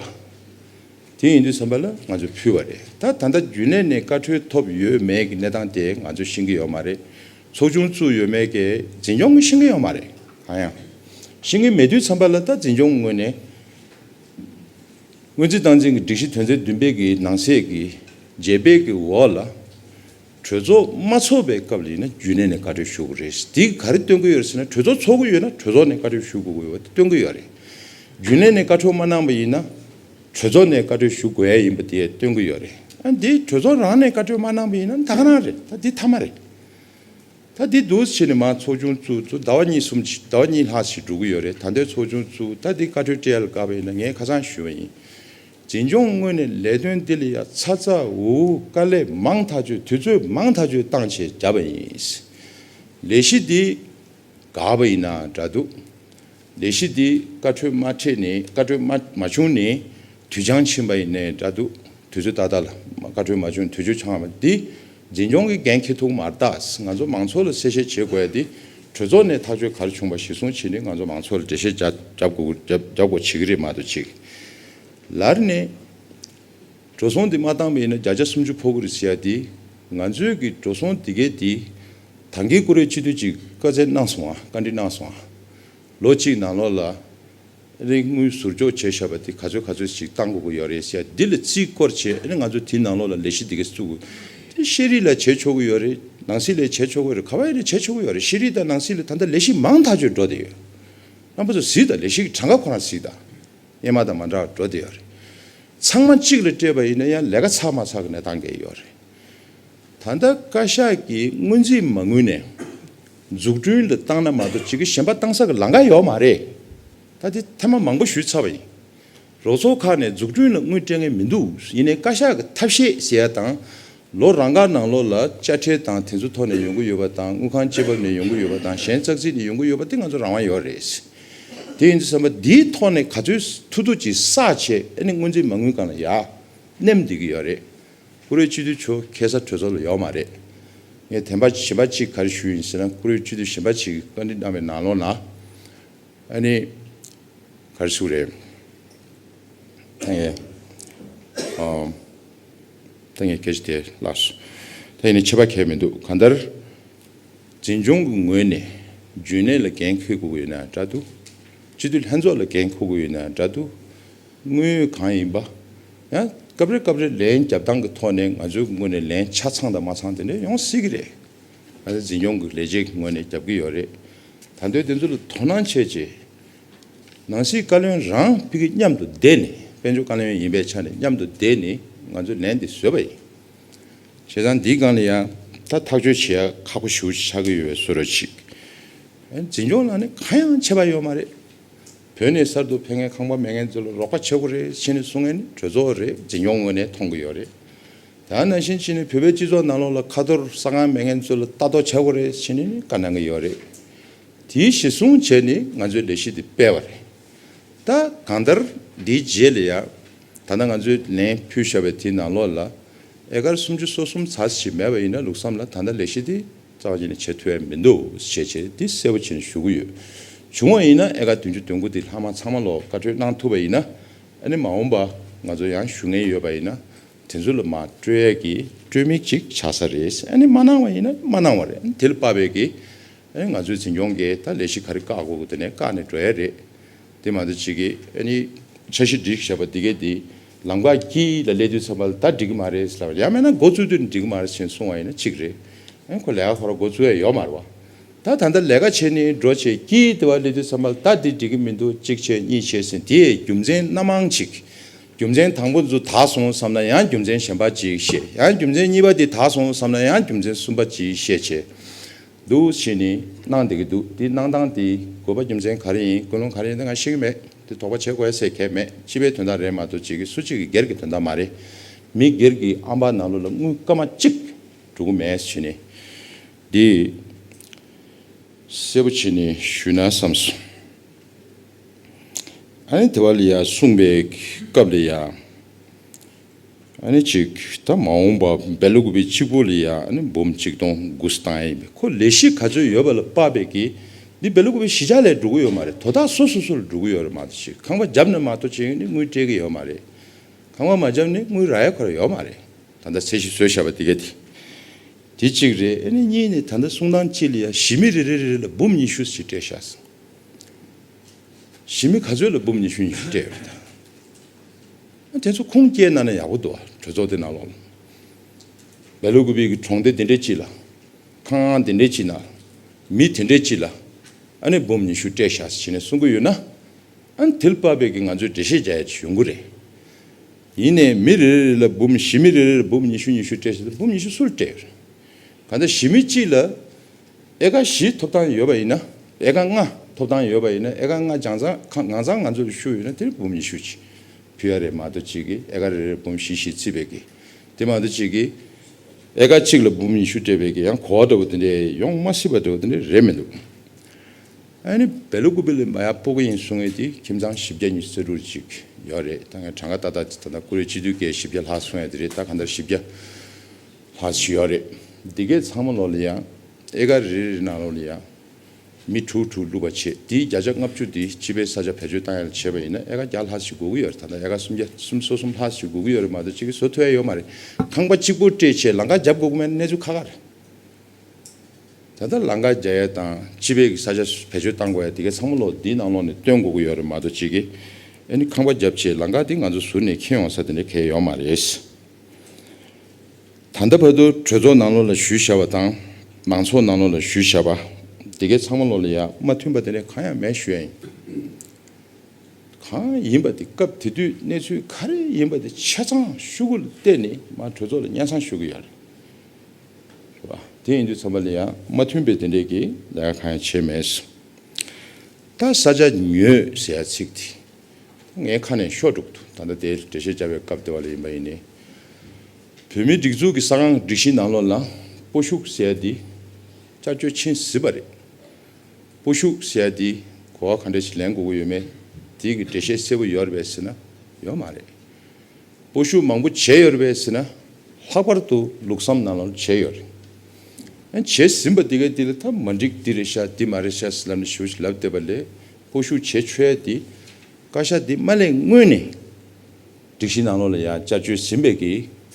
དེ་ཡིན་དུས་བསམ་པ་ལ་ང་ཚོས་ཕུལ་བ་རེད་ད། ད་ལྟ་རྒྱུན་ལས་ནས་བཀའ་འཁྲོལ་ཐོབ་ཡོད་མེད་ཀྱི་གནས་སྟངས་དེ་ང་ཚོས་ཤེས་ཀྱི་ཡོད་མ་རེད། ཚོགས་ཆུང་བཙུགས་ཡོད་མེད་ཀྱི་འཛིན་སྐྱོང་གིས་ཤེས་ཀྱི་ཡོད་མ་རེད། གང་ཡང་ཤེས་ཀྱི་མེད་དུས་བསམ་པ་ལ་ད་འཛིན་སྐྱོང་ངོས་ནས་སྔོན་རྩིས་སྟངས་འཛིན་གྱི་སྒྲིག་གཞི་དོན་ཚན་བདུན་པའི་གི་ནང་གསེས་ཀྱི་རྗེས་སྤེལ་གྱི་འོག་ལ་གྲོས་ཚོགས་མ་ཚོགས་པའི་སྐབས་ལ་ཡིན་ན་རྒྱུན་ལས་ནས་བཀའ་འཁྲོལ་ཞུ་དགོས་རེད། དེ་ག་རེ་སྟོན་གྱི་ཡོད་རེད་ཟེར་ན་གྲོས་ཚོགས་ཚོགས་ཀྱི་ཡོད་ན་གྲོས་ཚོགས་ནས་བཀའ་འཁྲོལ་ཞུ་དགོས་ཀྱི་ཡོད་དེ་སྟོན་གྱི་ཡོད་རེད། རྒྱུན་ལས་ནས་བཀའ་འཁྲོལ་མ་གནང་པ་ཡིན་ན། གྲོས་ཚོགས་ནས་བཀའ་འཁྲོལ་ཞུ་དགོས་ཡས་ཡིན་པ་དེ་སྟོན་གི་ཡོད་རེད་ད་འདི་གྲོས་ཚོགས་རང་ནས་བཀའ་འཁྲོལ་མ་གནང་པ་ཡིན་ན་འདའ་ཁང་རེད་ད་འདི་ཐ་མ་རེད། ད་འདི་འདུ་བྱེད་ནས་མང་ཚོགས་ཆུང་བཙུགས་ཚུ་ཟླ་བ་གཉིས་གསུམ་ཟླ་བ་གཉིས་ལྷག་ཞིག་འགྲོ་གི་ཡོད་རེད་ད་འདོད་ཚོགས་ཆུང་བཙུགས་ད་འདི་བཀའ་འཁྲོལ་སྤྲད་ཡ་ལ་དགའ་པ་ཡིན་ན་ངས་ཁ་སང་ཞུས་པ་ཡིན། འཛིན་སྐྱོང་དངོས་ནས་ལས་དོན་འདི་ལ་ཡ་ཚ་ཚ་འུར་འུར་དཀའ་ལས་མང་ཐག་ཆོད་དུས་ཚོད་མང་ཐག་ཆོད་བཏང་བྱས་བྱ་བ་ཡིན། ལས་གཞི་འདི་དགའ་བ་ཡིན་ན་འདྲ་འདུག་ལས་གཞི་འདི་བཀའ་འཁྲོལ་མ་ཁྲིད་ནས་བཀའ་འཁྲོལ་མ་མ་བྱུང་ནས་དུས་འཆང་ཕྱིན་པ་ཡིན་ནས་འདྲ་འདུག་དུས་ཚོད་ད་ལྟ་ལ་བཀའ་འཁྲོལ་མ་བྱུང་དུས་ཚོད་འཆང་བ་འདི་འཛིན་སྐྱོང་གི་འགན་ཁྱི་ཐུག་མ་རྟགས་ང་ཚོ་མང་ཚོགས་ལ་གསལ་བཤད་བྱེད་དགོས་ཡ་འདི་གྲོས་ཚོགས་ནས་ཐག་གཅོད་གར་བྱུང་བ་གཞི་བཟུང་བྱེད་ནི་ང་ཚོ་མང་ཚོགས་ལ་འགྲེལ་བཤད་རྒྱ་རྒྱབ་དགོས་རྒྱབ་དགོས་བྱེད་ཀྱི་རེད་མ་གཏོགས་གཅིག་ལར་ནས་འགྲོ་སོང་འདི་མ་བཏང་པ་ཡིན་ན་བརྒྱ་ཆ་སུམ་ཅུ་ཕོག་གི་རེད་ཟེར་ཡ་འདི་ང་ཚོས་ཀྱི་འགྲོ་སོང་འདི་གའི་འདི་ད་འགའི་ཀུ་རེ་གཅིག་སྡུད་ཅིག་བཀའ་བསྩལ་གནང་སོང་བ་བཀའ་འདྲི་གནང་སོང་བ། ལོ་གཅིག་ནང་ལོགས་ལ་རིག་དངུལ་ཟུར་འཇོག་བྱས་བཞག་པ་དེ་ག་ཚོད་ག་ཚོད་ཞིག་བཏང་དགོས་ཀྱི་ཡོད་རེད་ཟེར་དེ་ལ་རྩིས་བསྐོར་བྱས་ང་ཚོ་དེ་ནང་ལོགས་ལ་ལས་གཞི་འདི་གས་བཙུགས་དགོས་དེ་ཤེས་རིག་ལ་བྱས་ཆོག་གི་ཡོད་རེད་ནང་སྲིད་ལས་བྱས་ཆོག་གི་རེད་ག་བ་ཡིན་རེད་བྱས་ཆོག་གི་ཡོད་རེད་ཤེས་རིག་དང་ནང་སྲིད་ལས་ད་ལྟ་ལས་གཞི་མང་ཐག་ཆོད་འགྲོ་བསྡད་ཡོད་རྣམ་པ་ཚོ་གཟིགས་དང་ལས་གཞི་གི་གྲངས་ཀ་ཁོ་རང་གཟིགས་དང་དབྱེ་མ་དང་མ་འདྲ་བ་འགྲོ་བསྡད་ཡོད་རེད་ཚང་མ་གཅིག་ལ་སྤྲད་པ་ཡིན་ན་ཡང་ལས་ཀ་ཚགས་མ་ཚགས་ཀྱི་གནས་སྟངས་འགས་ཡོད་རེད་ད་ལྟ་བཀའ་ཤག་གིས་སྔོན་རྩིས་མ་དངུལ་ནས། འཛུགས་སྐྲུན་ལ་བཏང་ན་མ་གཏོགས་ཅིག་གཞན་པ་བཏང་ས་གི་ལང་ཀ་ཡོད་མ་རེད། ད་དེ་ཐེངས་མ་མང་པོ་ཞུས་ཚར་བ་ཡིན། རོགས་ཚོགས་ཁག་ནས་འཛུགས་སྐྲུན་ལ་དངུལ་སྤྲད་མཁན་མི་འདུག་ཡིན་ནའི་བཀའ་ཤག་གི་ཐབས་ཤེས་ཟེར་ཡ་དང། ལོ་རང་འགར་ནང་ལོགས་ལ་དཔྱ་ཁྲལ་དང་དེ་ཚོ་ཐོག་ནས་ཡོང་གི་ཡོད་པ་དང་དངུལ་ཁང་སྤྱི་བབ་ནས་ཡོང་གི་ཡོད་པ་དང་གཞན་ཙག་ཙིག་ནས་ཡོང་གི་ཡོད་པ་དེ་ང་ཚོ་རང་དབང་ཡོད་རེད། དེ་ཡིན་དུས་བསམ་པ་འདིའི་ཐོག་ནས་ག་ཚོད་ཐུ་ཐུ་ཅིག་བསགས་ཆེད་ཨ་ནི་དངོས་འཛིན་མ་དངུལ་གང་ལ་ཡག། སྣེམས་འདེགས་ཀྱི་ཡོད་རེད། ཀུ་རེ་སྤྱི་འཐུས་ཆོལ་ཁའི་ས་གྲོས་ཚོགས་ལ་ཡོག་མ་རེད། ངས་དེ་འབའ་ཞིག་འབའ་ཞིག་ག་རེ་ཞུས་ཡིན་ཟེར་ན་ཀུ་རེ་སྤྱི་འཐུས་ཞེས་འབའ་ཞིག་གིས་བཀའ་འདྲི་གནང་བའི་ནང་ལོགས་ན་ཨ་ནི་ག་རེ་ཟུག་རེད། ད་ངས་ད་ངས་གལ་ཆེ་དེ་བཀླགས་སོ། ད་ཡིན་ནའི་ཆེ་བ་གལ་མི་འདུག་གང་ལྟར་འཛིན་སྐྱོང་གི་ངོས་ནས་རྒྱུན་ལས་ལ་འགན་འཁུར་དགོས་ཀྱི་ཡོད་ན་འདྲ་འདུག་སྤྱི་འཐུས་ལྷན་ཚོགས་ལ་འགན་འཁུར་དགོས་ཀྱི་ཡོད་ན་འདྲ་འདུག་དངོས་ཡོད་གང་ཡིན་པ། ཡང་སྐབས་རེ་སྐབས་རེ་ལན་རྒྱབ་སྟངས་ཀྱི་ཐོག་ནས་ང་ཚོའི་ངོས་ནས་ལན་ཆ་ཚང་དང་མ་ཚང་དེ་འདྲ་ཡོང་སྲིད་ཀྱི་རེད། ང་ཚོའི་འཛིན་སྐྱོང་གི་ལས་བྱེད་ཀྱི་ངོས་ནས་རྒྱབ་ཀྱི་ཡོད་རེད། ད་འདོད་དེ་ཚོ་ལ་དོ་སྣང་བྱེད་ཆེད། ནང་སྲིད་བཀའ་བློན་རང་ཕི་གི་མཉམ་དུ་བསྡད་ནས་དཔལ་འབྱོར་བཀའ་བློན་ཡིན་པའི་ཆ་ནས་མཉམ་དུ་བསྡད་ནས་ང་ཚོས་ལན་འདི་བཟོས་པ་ཡིན། བྱས་ཙང་འདིའི་སྒང་ལ་ཡང་ད་ཐག་གཅོད་བྱེད་ཡ་ཁག་པོ་ཞུ་ཆགས་ཀྱི་ཡོད་བས་བཟོས་རོགས་གྱིས། འཛིན་སྐྱོང་ལ་ནི་གང་ཡང་བྱས་པ་ཡོད་མ་རེད། བོད་ནས་གསར་དུ་ཕེབས་མཁན་ཁང་པ་མེད་མཁན་ཚོ་ལ་རོགས་པ་བྱེད་དགོས་རེད་ཕྱི་ནས་གསུང་མཁན་གྲོས་ཚོགས་རེད་འཛིན་སྐྱོང་ངོས་ནས་མཐོང་གི་ཡོད་རེད། ད་ནང་བཞིན་ཕྱི་ནས་བོད་པའི་སྤྱི་ཚོགས་ནང་ལོགས་ལ་ཁ་ཐོར་ས་ཁང་མེད་མཁན་ཚོ་ལ་ལྟ་རྟོག་བྱ་དགོས་རེད་ཕྱི་ནས་ནས་བཀའ་གནང་གི་ཡོད་རེད། དེའི་གཞི་བཟུང་བྱས་ནས་ང་ཚོས་ལས་གཞི་འདི་སྤེལ་བ་རེད། ད་གང་ལྟར་འདིའི་རྗེས་ལ་ཡང་ད་ལྟ་ང་ཚོས་ལན་ཕུལ་བཞག་པའི་དེའི་ནང་ལོགས་ལ་ཨེ་ཀར་སུམ་ཅུ་སོ་གསུམ་ཚ་ཞིག་མེད་པ་ཡིན་ན་ལུགས་བསམ་ལ་ད་ལྟ་ལས་གཞི་འདི་རྩ་བ་ཉིད་ནས་བྱེད་ཐུབ་ཡ་མི་འདུག་ཞེས་བྱས་ཏེ་འདི་གསལ་བོ་བྱེད་ནས་ཞུ་གི་ཡོད། བྱུང་བ་ཡིན་ན་ཨེ་ཀ་བདུན་ཅུ་དོན་དགུ་འདི་ལྷག་མ་ཚང་མ་ལོག་བཀའ་འཁྲོལ་གནང་ཐུབ་པ་ཡིན་ན་ཨ་ནི་མ་འོངས་པ་ང་ཚོ་ཡང་ཞུ་ངེས་ཡོད་པ་ཡིན་ན་དེ་ཚོ་ལ་མ་སྤྲོད་ཡ་གི་སྤྲོད་མིན་ཅིག་ཆགས་ས་རེད་ཨ་ནི་མ་གནང་བ་ཡིན་ན་མ་གནང་བ་རེད་ཨ་ནི་དེ་ལ་དཔག་པའི་གི་ཨ་ནི་ང་ཚོའི་འཛིན་སྐྱོང་གི་ད་ལས་གཞི་ག་རེ་བཀག་དགོས་དགོས་དེ་ནས་བཀག་ནས་འགྲོ་ཡ་རེད་དེ་མ་ཚད་ཅིག་གི་ཨ་ནི་འཆར་གཞི་སྒྲིག་ཞབས་པ་འདི་གས་འདི། ལམ་ཁ་གྱིས་ལ་སླེབས་དུས་ཚང་མ་ལ་ད་འགྲིག་གི་མ་རེད་ཟེར་ལབ། ཡང་མེད་ན་འགོ་བཙུགས་དུས་འགྲིག་གི་མ་རེད་ཟེར་གསུང་བ་ཡིན་ན་གཅིག་རེད། ཁོ་ལས་ཀ་ཁོ་རང་འགོ་བཙུགས་ཡ་ཡོད་མ་རེད་བ། ད་ད་ལྟ་ལས་ཀ་བྱེད་ནི་འགྲོ་བྱེད་ཀྱིས་དེ་བ་སླེབས་དུས་ཚང་མ་ལ་ད་འདི་འགྲིག་གི་མི་འདུག་གཅིག་བྱས་གཉིས་བྱས་ཟེར་དེས་རྒྱུ་མཚན་སྣ་མང་གཅིག། རྒྱུ་མཚན་དང་པོ་འཛུ་དག་སོང་བསམ་ན་ཡང་རྒྱུ་མཚན་གཞན་པ་གཅིག་བཤད་ཡང་རྒྱུ་མཚན་གཉིས་པ་འདི་དག་སོང་བསམ་ན་ཡང་རྒྱུ་མཚན་གསུམ་པ་གཅིག་བཤད་བྱས། འདུག་ཕྱིས་ནས་གནང་བསྡད་ཀྱི་འདུག་དེ་གནང་སྟངས་དེའི་དགོས་པ་རྒྱུ་མཚན་ག་རེ་ཡིན་ཀུན་སློང་ག་རེ་ཡིན་དེ་ང་ཤེས་ཀྱི་མེད་དེ་དོགས་པ་བྱེད་དགོས་ཟེར་མཁན་མེད་སྤྱི་པའི་དོན་དག་རེད་མ་གཏོགས་གཅིག་གིས་སུ་གཅིག་གིས་སྒེར་གྱི་དོན་དག་མ་རེད། མི་སྒེར་གྱི་ཨམ་པ་ནང་ལོགས་ལ་དངུལ་སྐར་མ་གཅིག་འགྲོ་གི་མེད་ཕྱིས་ནས། འདི་གསལ་པོ་བྱས་ནས་ཞུས་ན་བསམ་སོང། ཨ་ནེ་དེ་བ་ལི་ཡ་གསུངས་པའི་སྐབས་ལས་ཡ། གཅིག་ད་མ་འོངས་པ་འབལ་ལོ་དགུ་པའི་གཅིག་པོ་ལ་ཡང་འབུམ་གཅིག་སྟོང་དགུ་སྟ་ཡིན་པས་ཁོ་ལས་གཞི་ག་ཚོད་ཡོད་པ་ལ་དཔག་པའི་གི་འདི་འབལ་ལོ་དགུ་པའི་གཞི་ཆགས་ལས་འགྲོ་གི་ཡོད་མ་རེད་དོ་ད་སོ་སོ་སོ་ལ་འགྲོ་གི་ཡོད་རེད་མ་གཏོགས་ཆེ་ཁང་པ་རྒྱབ་ནས་མ་གཏོགས་ཆེ་ནི་དངུལ་སྤྲད་གི་ཡོད་མ་རེད་ཁང་པ་མ་རྒྱབ་ནི་དངུལ་རག་ཡ་ཁོ་ར་ཡོད་མ་རེད་ད་ལྟ་ཚད་གཞི་བཟོས་བཞག་པ་དེ་ག་དེ་དེ་གཅིག་རེད་ནི་གཉིས་ནི་ད་ལྟ་གསུང་སྟངས་གཅིག་ལ་ཡ་གཞི་མི་རེ་རེ་རེ་རེ་ལ་འབུམ་ཉི་ཤུ་ཞིག་སྤྲད་བཞག་སོང་གཞི་མི་ག་ཚོད་ལ་འབུམ་ཉི་ཤུ་ཉི་ཤུ་སྤྲད་ཡོད་རེད་ད། དེ་ཚོ་ཁུངས་སྐྱེལ་གནང་ན་ཡག་པོ་འདུག་གྲོས་ཚོགས་དེ་ནང་ལོགས་ལ། ལ་ལུ་གུ་བེ་གི་གྲོང་སྡེ་དེ་འདྲས་གྱིས་ལ། ཁང་ཨང་དེ་འདྲས་གྱིས་ན། མི་དེ་འདྲས་གྱིས་ལ། ཨ་ནེ་འབུམ་ཉི་ཤུ་སྤྲད་བཞག་ཟེར་བྱས་ནས་གསུང་གི་ཡོད་ན། ཨ་ནེ་དིལ་པ་བེ་གིས་ང་ཚོའི་འགྲེལ་བཤད་བྱ་ཡ་ཆེ་ཡོང་གི་རེད། ཡིན་ནས་མི་རེ་རེ་ལ་འབུམ་བཞི་མི་རེ་རེ་ལ་འབུམ་ཉི་ཤུ་ཉི་ཤུ་སྤྲད་བཞག་ལ་འབུམ་ཉི་ཤུ་སུ་ལ་སྤྲད་ཡོད་རེད། གང་ལྟར་གཞི་མི་གཅིག་ལ་ཨེ་ཀ་བཞི་ཐོབ་ཐང་ཡོད་པ་ཡིན་ན། ཨེ་ཀ་ལྔ་ཐོབ་ཐང་ཡོད་པ་ཡིན་ན་ཨེ་ཀ་ལྔ་སྦྱང་ཚང་ང་ཚང་ང་ཚོ་ལ་ཤུགས་ཡོད་ན་དེར་འབུམ་ཉི་ཤུ་གྱིས་ཕུལ་ཡ་རེད་མ་གཏོགས་གཅིག་གིས་ཨེ་ཀ་རེ་རེར་འབུམ་བཞི་བཞི་བརྩིས་པས་ཀྱི་དེ་མ་གཏོགས་གཅིག་གིས་ཨེ་ཀ་གཅིག་ལ་འབུམ་ཉི་ཤུ་སྤྲད་པས་ཀྱི་ཡང་གོ་བ་འདྲ་བོ་དེ་འདྲས་ཡོང་མ་སྲིད་པ་འདྲ་བོ་དེ་འདྲས་རེད་མི་འདུག་ཨ་ནི་བེ་ལུ་ཀུ་བེ་ལི་མ་ཡ་པོ་ཀ་ཡིན་གསུང་ངེས་དེ་ཁྱིམ་ཚང་བཞི་བརྒྱ་གཉིས་རྩེ་དྲུག་ཅིག་ཡོད་རེད་ད་ངས་གྲངས་ཀ་ཏག་ཏག་ད་ལྟ་ཀུ་རེ་སྤྱི་འཐུས་འགས་བཞི་བརྒྱ་ལྷག་གསུང་ཡ་དེ་རེད་ད་ག་འདྲ་བཞི་བརྒྱ། ལྷ་ཆུ་ཡོག་རེད་འདི་གའི་ཚང་མ་ལོ་ལ་ཡང་ཨེ་ག་རེ་རེ་ན་ལོ་ལ་ཡང་མི་དྲུག་དྲུག་བླུག་པ་བྱེད་དེའི་བརྒྱ་ཆ་ལྔ་བཅུ་དེ་སྤྱི་པའི་ས་ཆ་བེད་སྤྱོད་བཏང་ཡག་ལ་བྱེད་པ་ཡིན་ན་ཨེ་ག་བརྒྱ་ལྷག་ཞིག་དགོས་ཀྱི་ཡོད་རེད་ད་ལྟ་ཨེ་ག་སུམ་བརྒྱ་སུམ་གསོ་གསུམ་ལྷག་ཞིག་དགོས་ཀྱི་ཡོད་རེད་མ་གཏོགས་གཅིག་གིས་བཟོ་ཐུབ་ཡ་ཡོད་མ་རེད་ཁང་པ་གཅིག་པོ་སྤྲད་ཆེད་ལང་ཀ་རྒྱབ་དགོས་ཀྱི་མེད་གནས་ཚུལ་ཁ་ཁ་རེད་ད་ལྟ་ལང་ཀ་རྒྱ་ཡས་དང་སྤྱི་པའི་གི་ས་ཆ་བེད་སྤྱོད་བཏང་དགོས་ཡ་འདི་གའི་ཚང་མ་ལོ་འདིའི་ནང་ལོ་ནས་བཏོན་དགོས་ཀྱི་ཡོད་རེད་མ་གཏོགས་གཅིག་གིས་ཨེ་ནི་ཁང་པ་རྒྱབ་ཆེད་ལང་ཀ་འདི་ང་ཚོ་ཟུར་ནས་ཁེངས་ཡོང་ས་དེ་འདྲ་གལ་ཡོད་མ་རེད། ད་ལྟ་བར་དུ་གྲོས་ཚོགས་ནང་ལོགས་ལ་ཞུས་བཞག་པ་དང་མང་ཚོགས་ནང་ལོགས་ལ་ཞུས་བཞག་པ། དེ་གའི་ཚང་མ་ལོགས་ལ་ཡ་མ་མཐུན་པ་དེ་འདྲ་གང་ཡང་མེད་ཞུས་ཡ་ཡིན། གང་ཡིན་པ་དེ་སྐབས་དེ་དུས་གནས་ཚུལ་ག་རེ་ཡིན་པ་དེ་ཆ་ཚང་ཤུ་གུ་ལ་བལྟས་ནས་མ་གྲོས་ཚོགས་ལ་གཉའ་ཚང་ཞུ་གི་ཡ་རེད། ཞུ་བ་དེ་ཡིན་དུས་ཚང་མ་ལ་ཡ་མ་མཐུན་པའི་དེ་འདྲས་ཀྱི་ལས་ཀ་གང་ཡང་བྱས་མེད། ད་ས་ཆ་ཉོས་ཟེར་ཡ་ཚིག་དེ་ངའི་ཁ་ནས་ཤོག་དྲུག་ཏུ་ད་ལྟ་དེའི་འགྲེལ་བཤད་བྱ་བའི་སྐབས་དེ་བ་ལ་ཡིན་པ་ཡིན་ནི། བོད་མིའི་སྒྲིག་འཛུགས་ཀྱི་ས་ཁང་སྒྲིག་གཞིའི་ནང་ལོགས་ན་སྤོ་ཤུགས་ཟེར་དེ་བཅར་བཅོས་ཕྱིན་ཟིན་པ་རེད། སྤོ་ཤུགས་ཟེར་དེ་གོ་བ་ག་འདྲ་ཞིག་ལེན་དགོས་ཀྱི་ཡོད་མེད་དེ་གི་འགྲེལ་བཤད་གསལ་བོ་ཡོད་རེད་པས་ཟེར་ན་ཡོད་མ་རེད། སྤོ་ཤུགས་མང་པོ་བྱས་ཡོད་རེད་པས་ཟེར་ན་ལྷག་པར་དུ་ལུགས་བསམ་ནང་ལོགས་བྱས་ཡོད་རེད། ཡང་བྱས་ཟིན་པ་དེ་གའི་དེ་ལ་ཐབས་མ་འགྲིག་འདི་རེད་ཤག་འདི་མ་རེད་ཤག་ཟེར་ལབ་ནས་ཞུ་བ་ཞིག་ལབ་བསྡད་པ་ལས། ཧོ་ཤུ་བྱེད་ཆོལ་ཏེ། བཀའ་ཤག་འདི་མ་ལས་སྔོན་ནས། སྒྲིག་གཞི་ནང་ལོགས་ལ་ཡང་བཅའ་བཅོས་ཟིན་པའི་གི་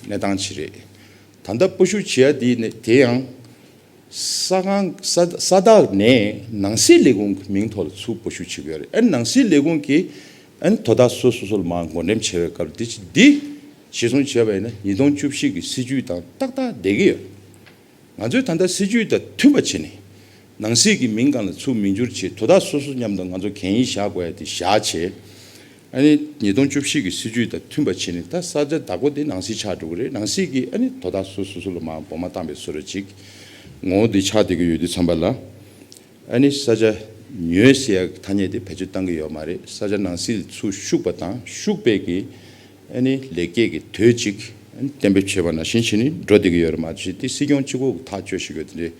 གནས་སྟངས་ཆེ་རེད། ད་ལྟ་པོ་ཤུ་བྱེད་ཡ་དེ་དེ་ཡང། ས་ཁང་ས་བདག་ནས་ནང་སྲིད་ལས་ཁུངས་ཀྱི་མིང་ཐོག་ལ་ཚུར་པོ་ཤུ་བྱེད་གི་ཡོད་རེད་ཨ་ནང་སྲིད་ལས་ཁུངས་ཀྱི་ཨ་ནི་དོ་བདག་ཚོ་སོ་སོ་ལ་མང་བགོ་འགྲེམས་བྱས་པའི་སྐབས་འདི་ཅི་འདི་བྱེད་སོང་བྱས་པ་ཡིན་ན་ཉིས་སྟོང་བཅུ་བཞི་གི་སྲིད་ཇུས་དང་ཏག་ཏག་བསྡད་གི་ཡོད། ང་ཚོས་ད་ལྟ་སྲིད་ཇུས་དང་མཐུན་པ་བྱས་ནས། ནང་སྲིད་ཀྱི་མིང་གང་ལ་ཚུགས་མི་འགྱུར་ཆེད་དོ་བདག་སོ་སོ་མཉམ་དུ་ང་ཚོ་གན་ཡིན་བཞག་དགོས་ཡ་དེ་བཞག་བྱས། ཨ་ནི་ཉིས་སྟོང་བཅུ་བཞི་གི་སྲིད་ཇུས་དང་མཐུན་པ་བྱས་ནས་ད་ས་ཆ་བདག་པོ་དེ་ནང་སྲིད་ཆགས་འགྲོ་གི་རེད་ནང་སྲིད་ཀྱིས་ཨ་ནི་དོ་བདག་སོ་སོ་སོ་ལ་མ་འགོ་མ་བཏང་བའི་སོ་ར་ཅིག་ངོ་བོ་དེ་ཆགས་བསྡད་ཀྱི་ཡོད་དུས་འཚམས་པ་ལ། ཨ་ནི་ས་ཆ་ཉོས་བཤད་ཡག་གི་ཐ་སྙད་དེ་བེད་སྤྱོད་གཏང་གི་ཡོད་མ་རེད་ས་ཆ་ནང་སིལ་ཚུ་ཤུག་པ་དང་ཤུག་སྤེལ་གི་ཨ་ནི་ལེགས་སྐྱེས་གི་དོད་ཅིག་ཨ་ནི་གཏན་འབེབས་བྱེད་པ་ནང་བཞིན་བྱེད་ནི་འགྲོ་བདེ་གི་ཡོད་རེད་མ་གཞི་དེ་སྲིད་སྐྱོང་སྤྱི་ཁོག་གི་ཐག་གཅོད་ཞིག་ཡོད་དེ་འདྲའི་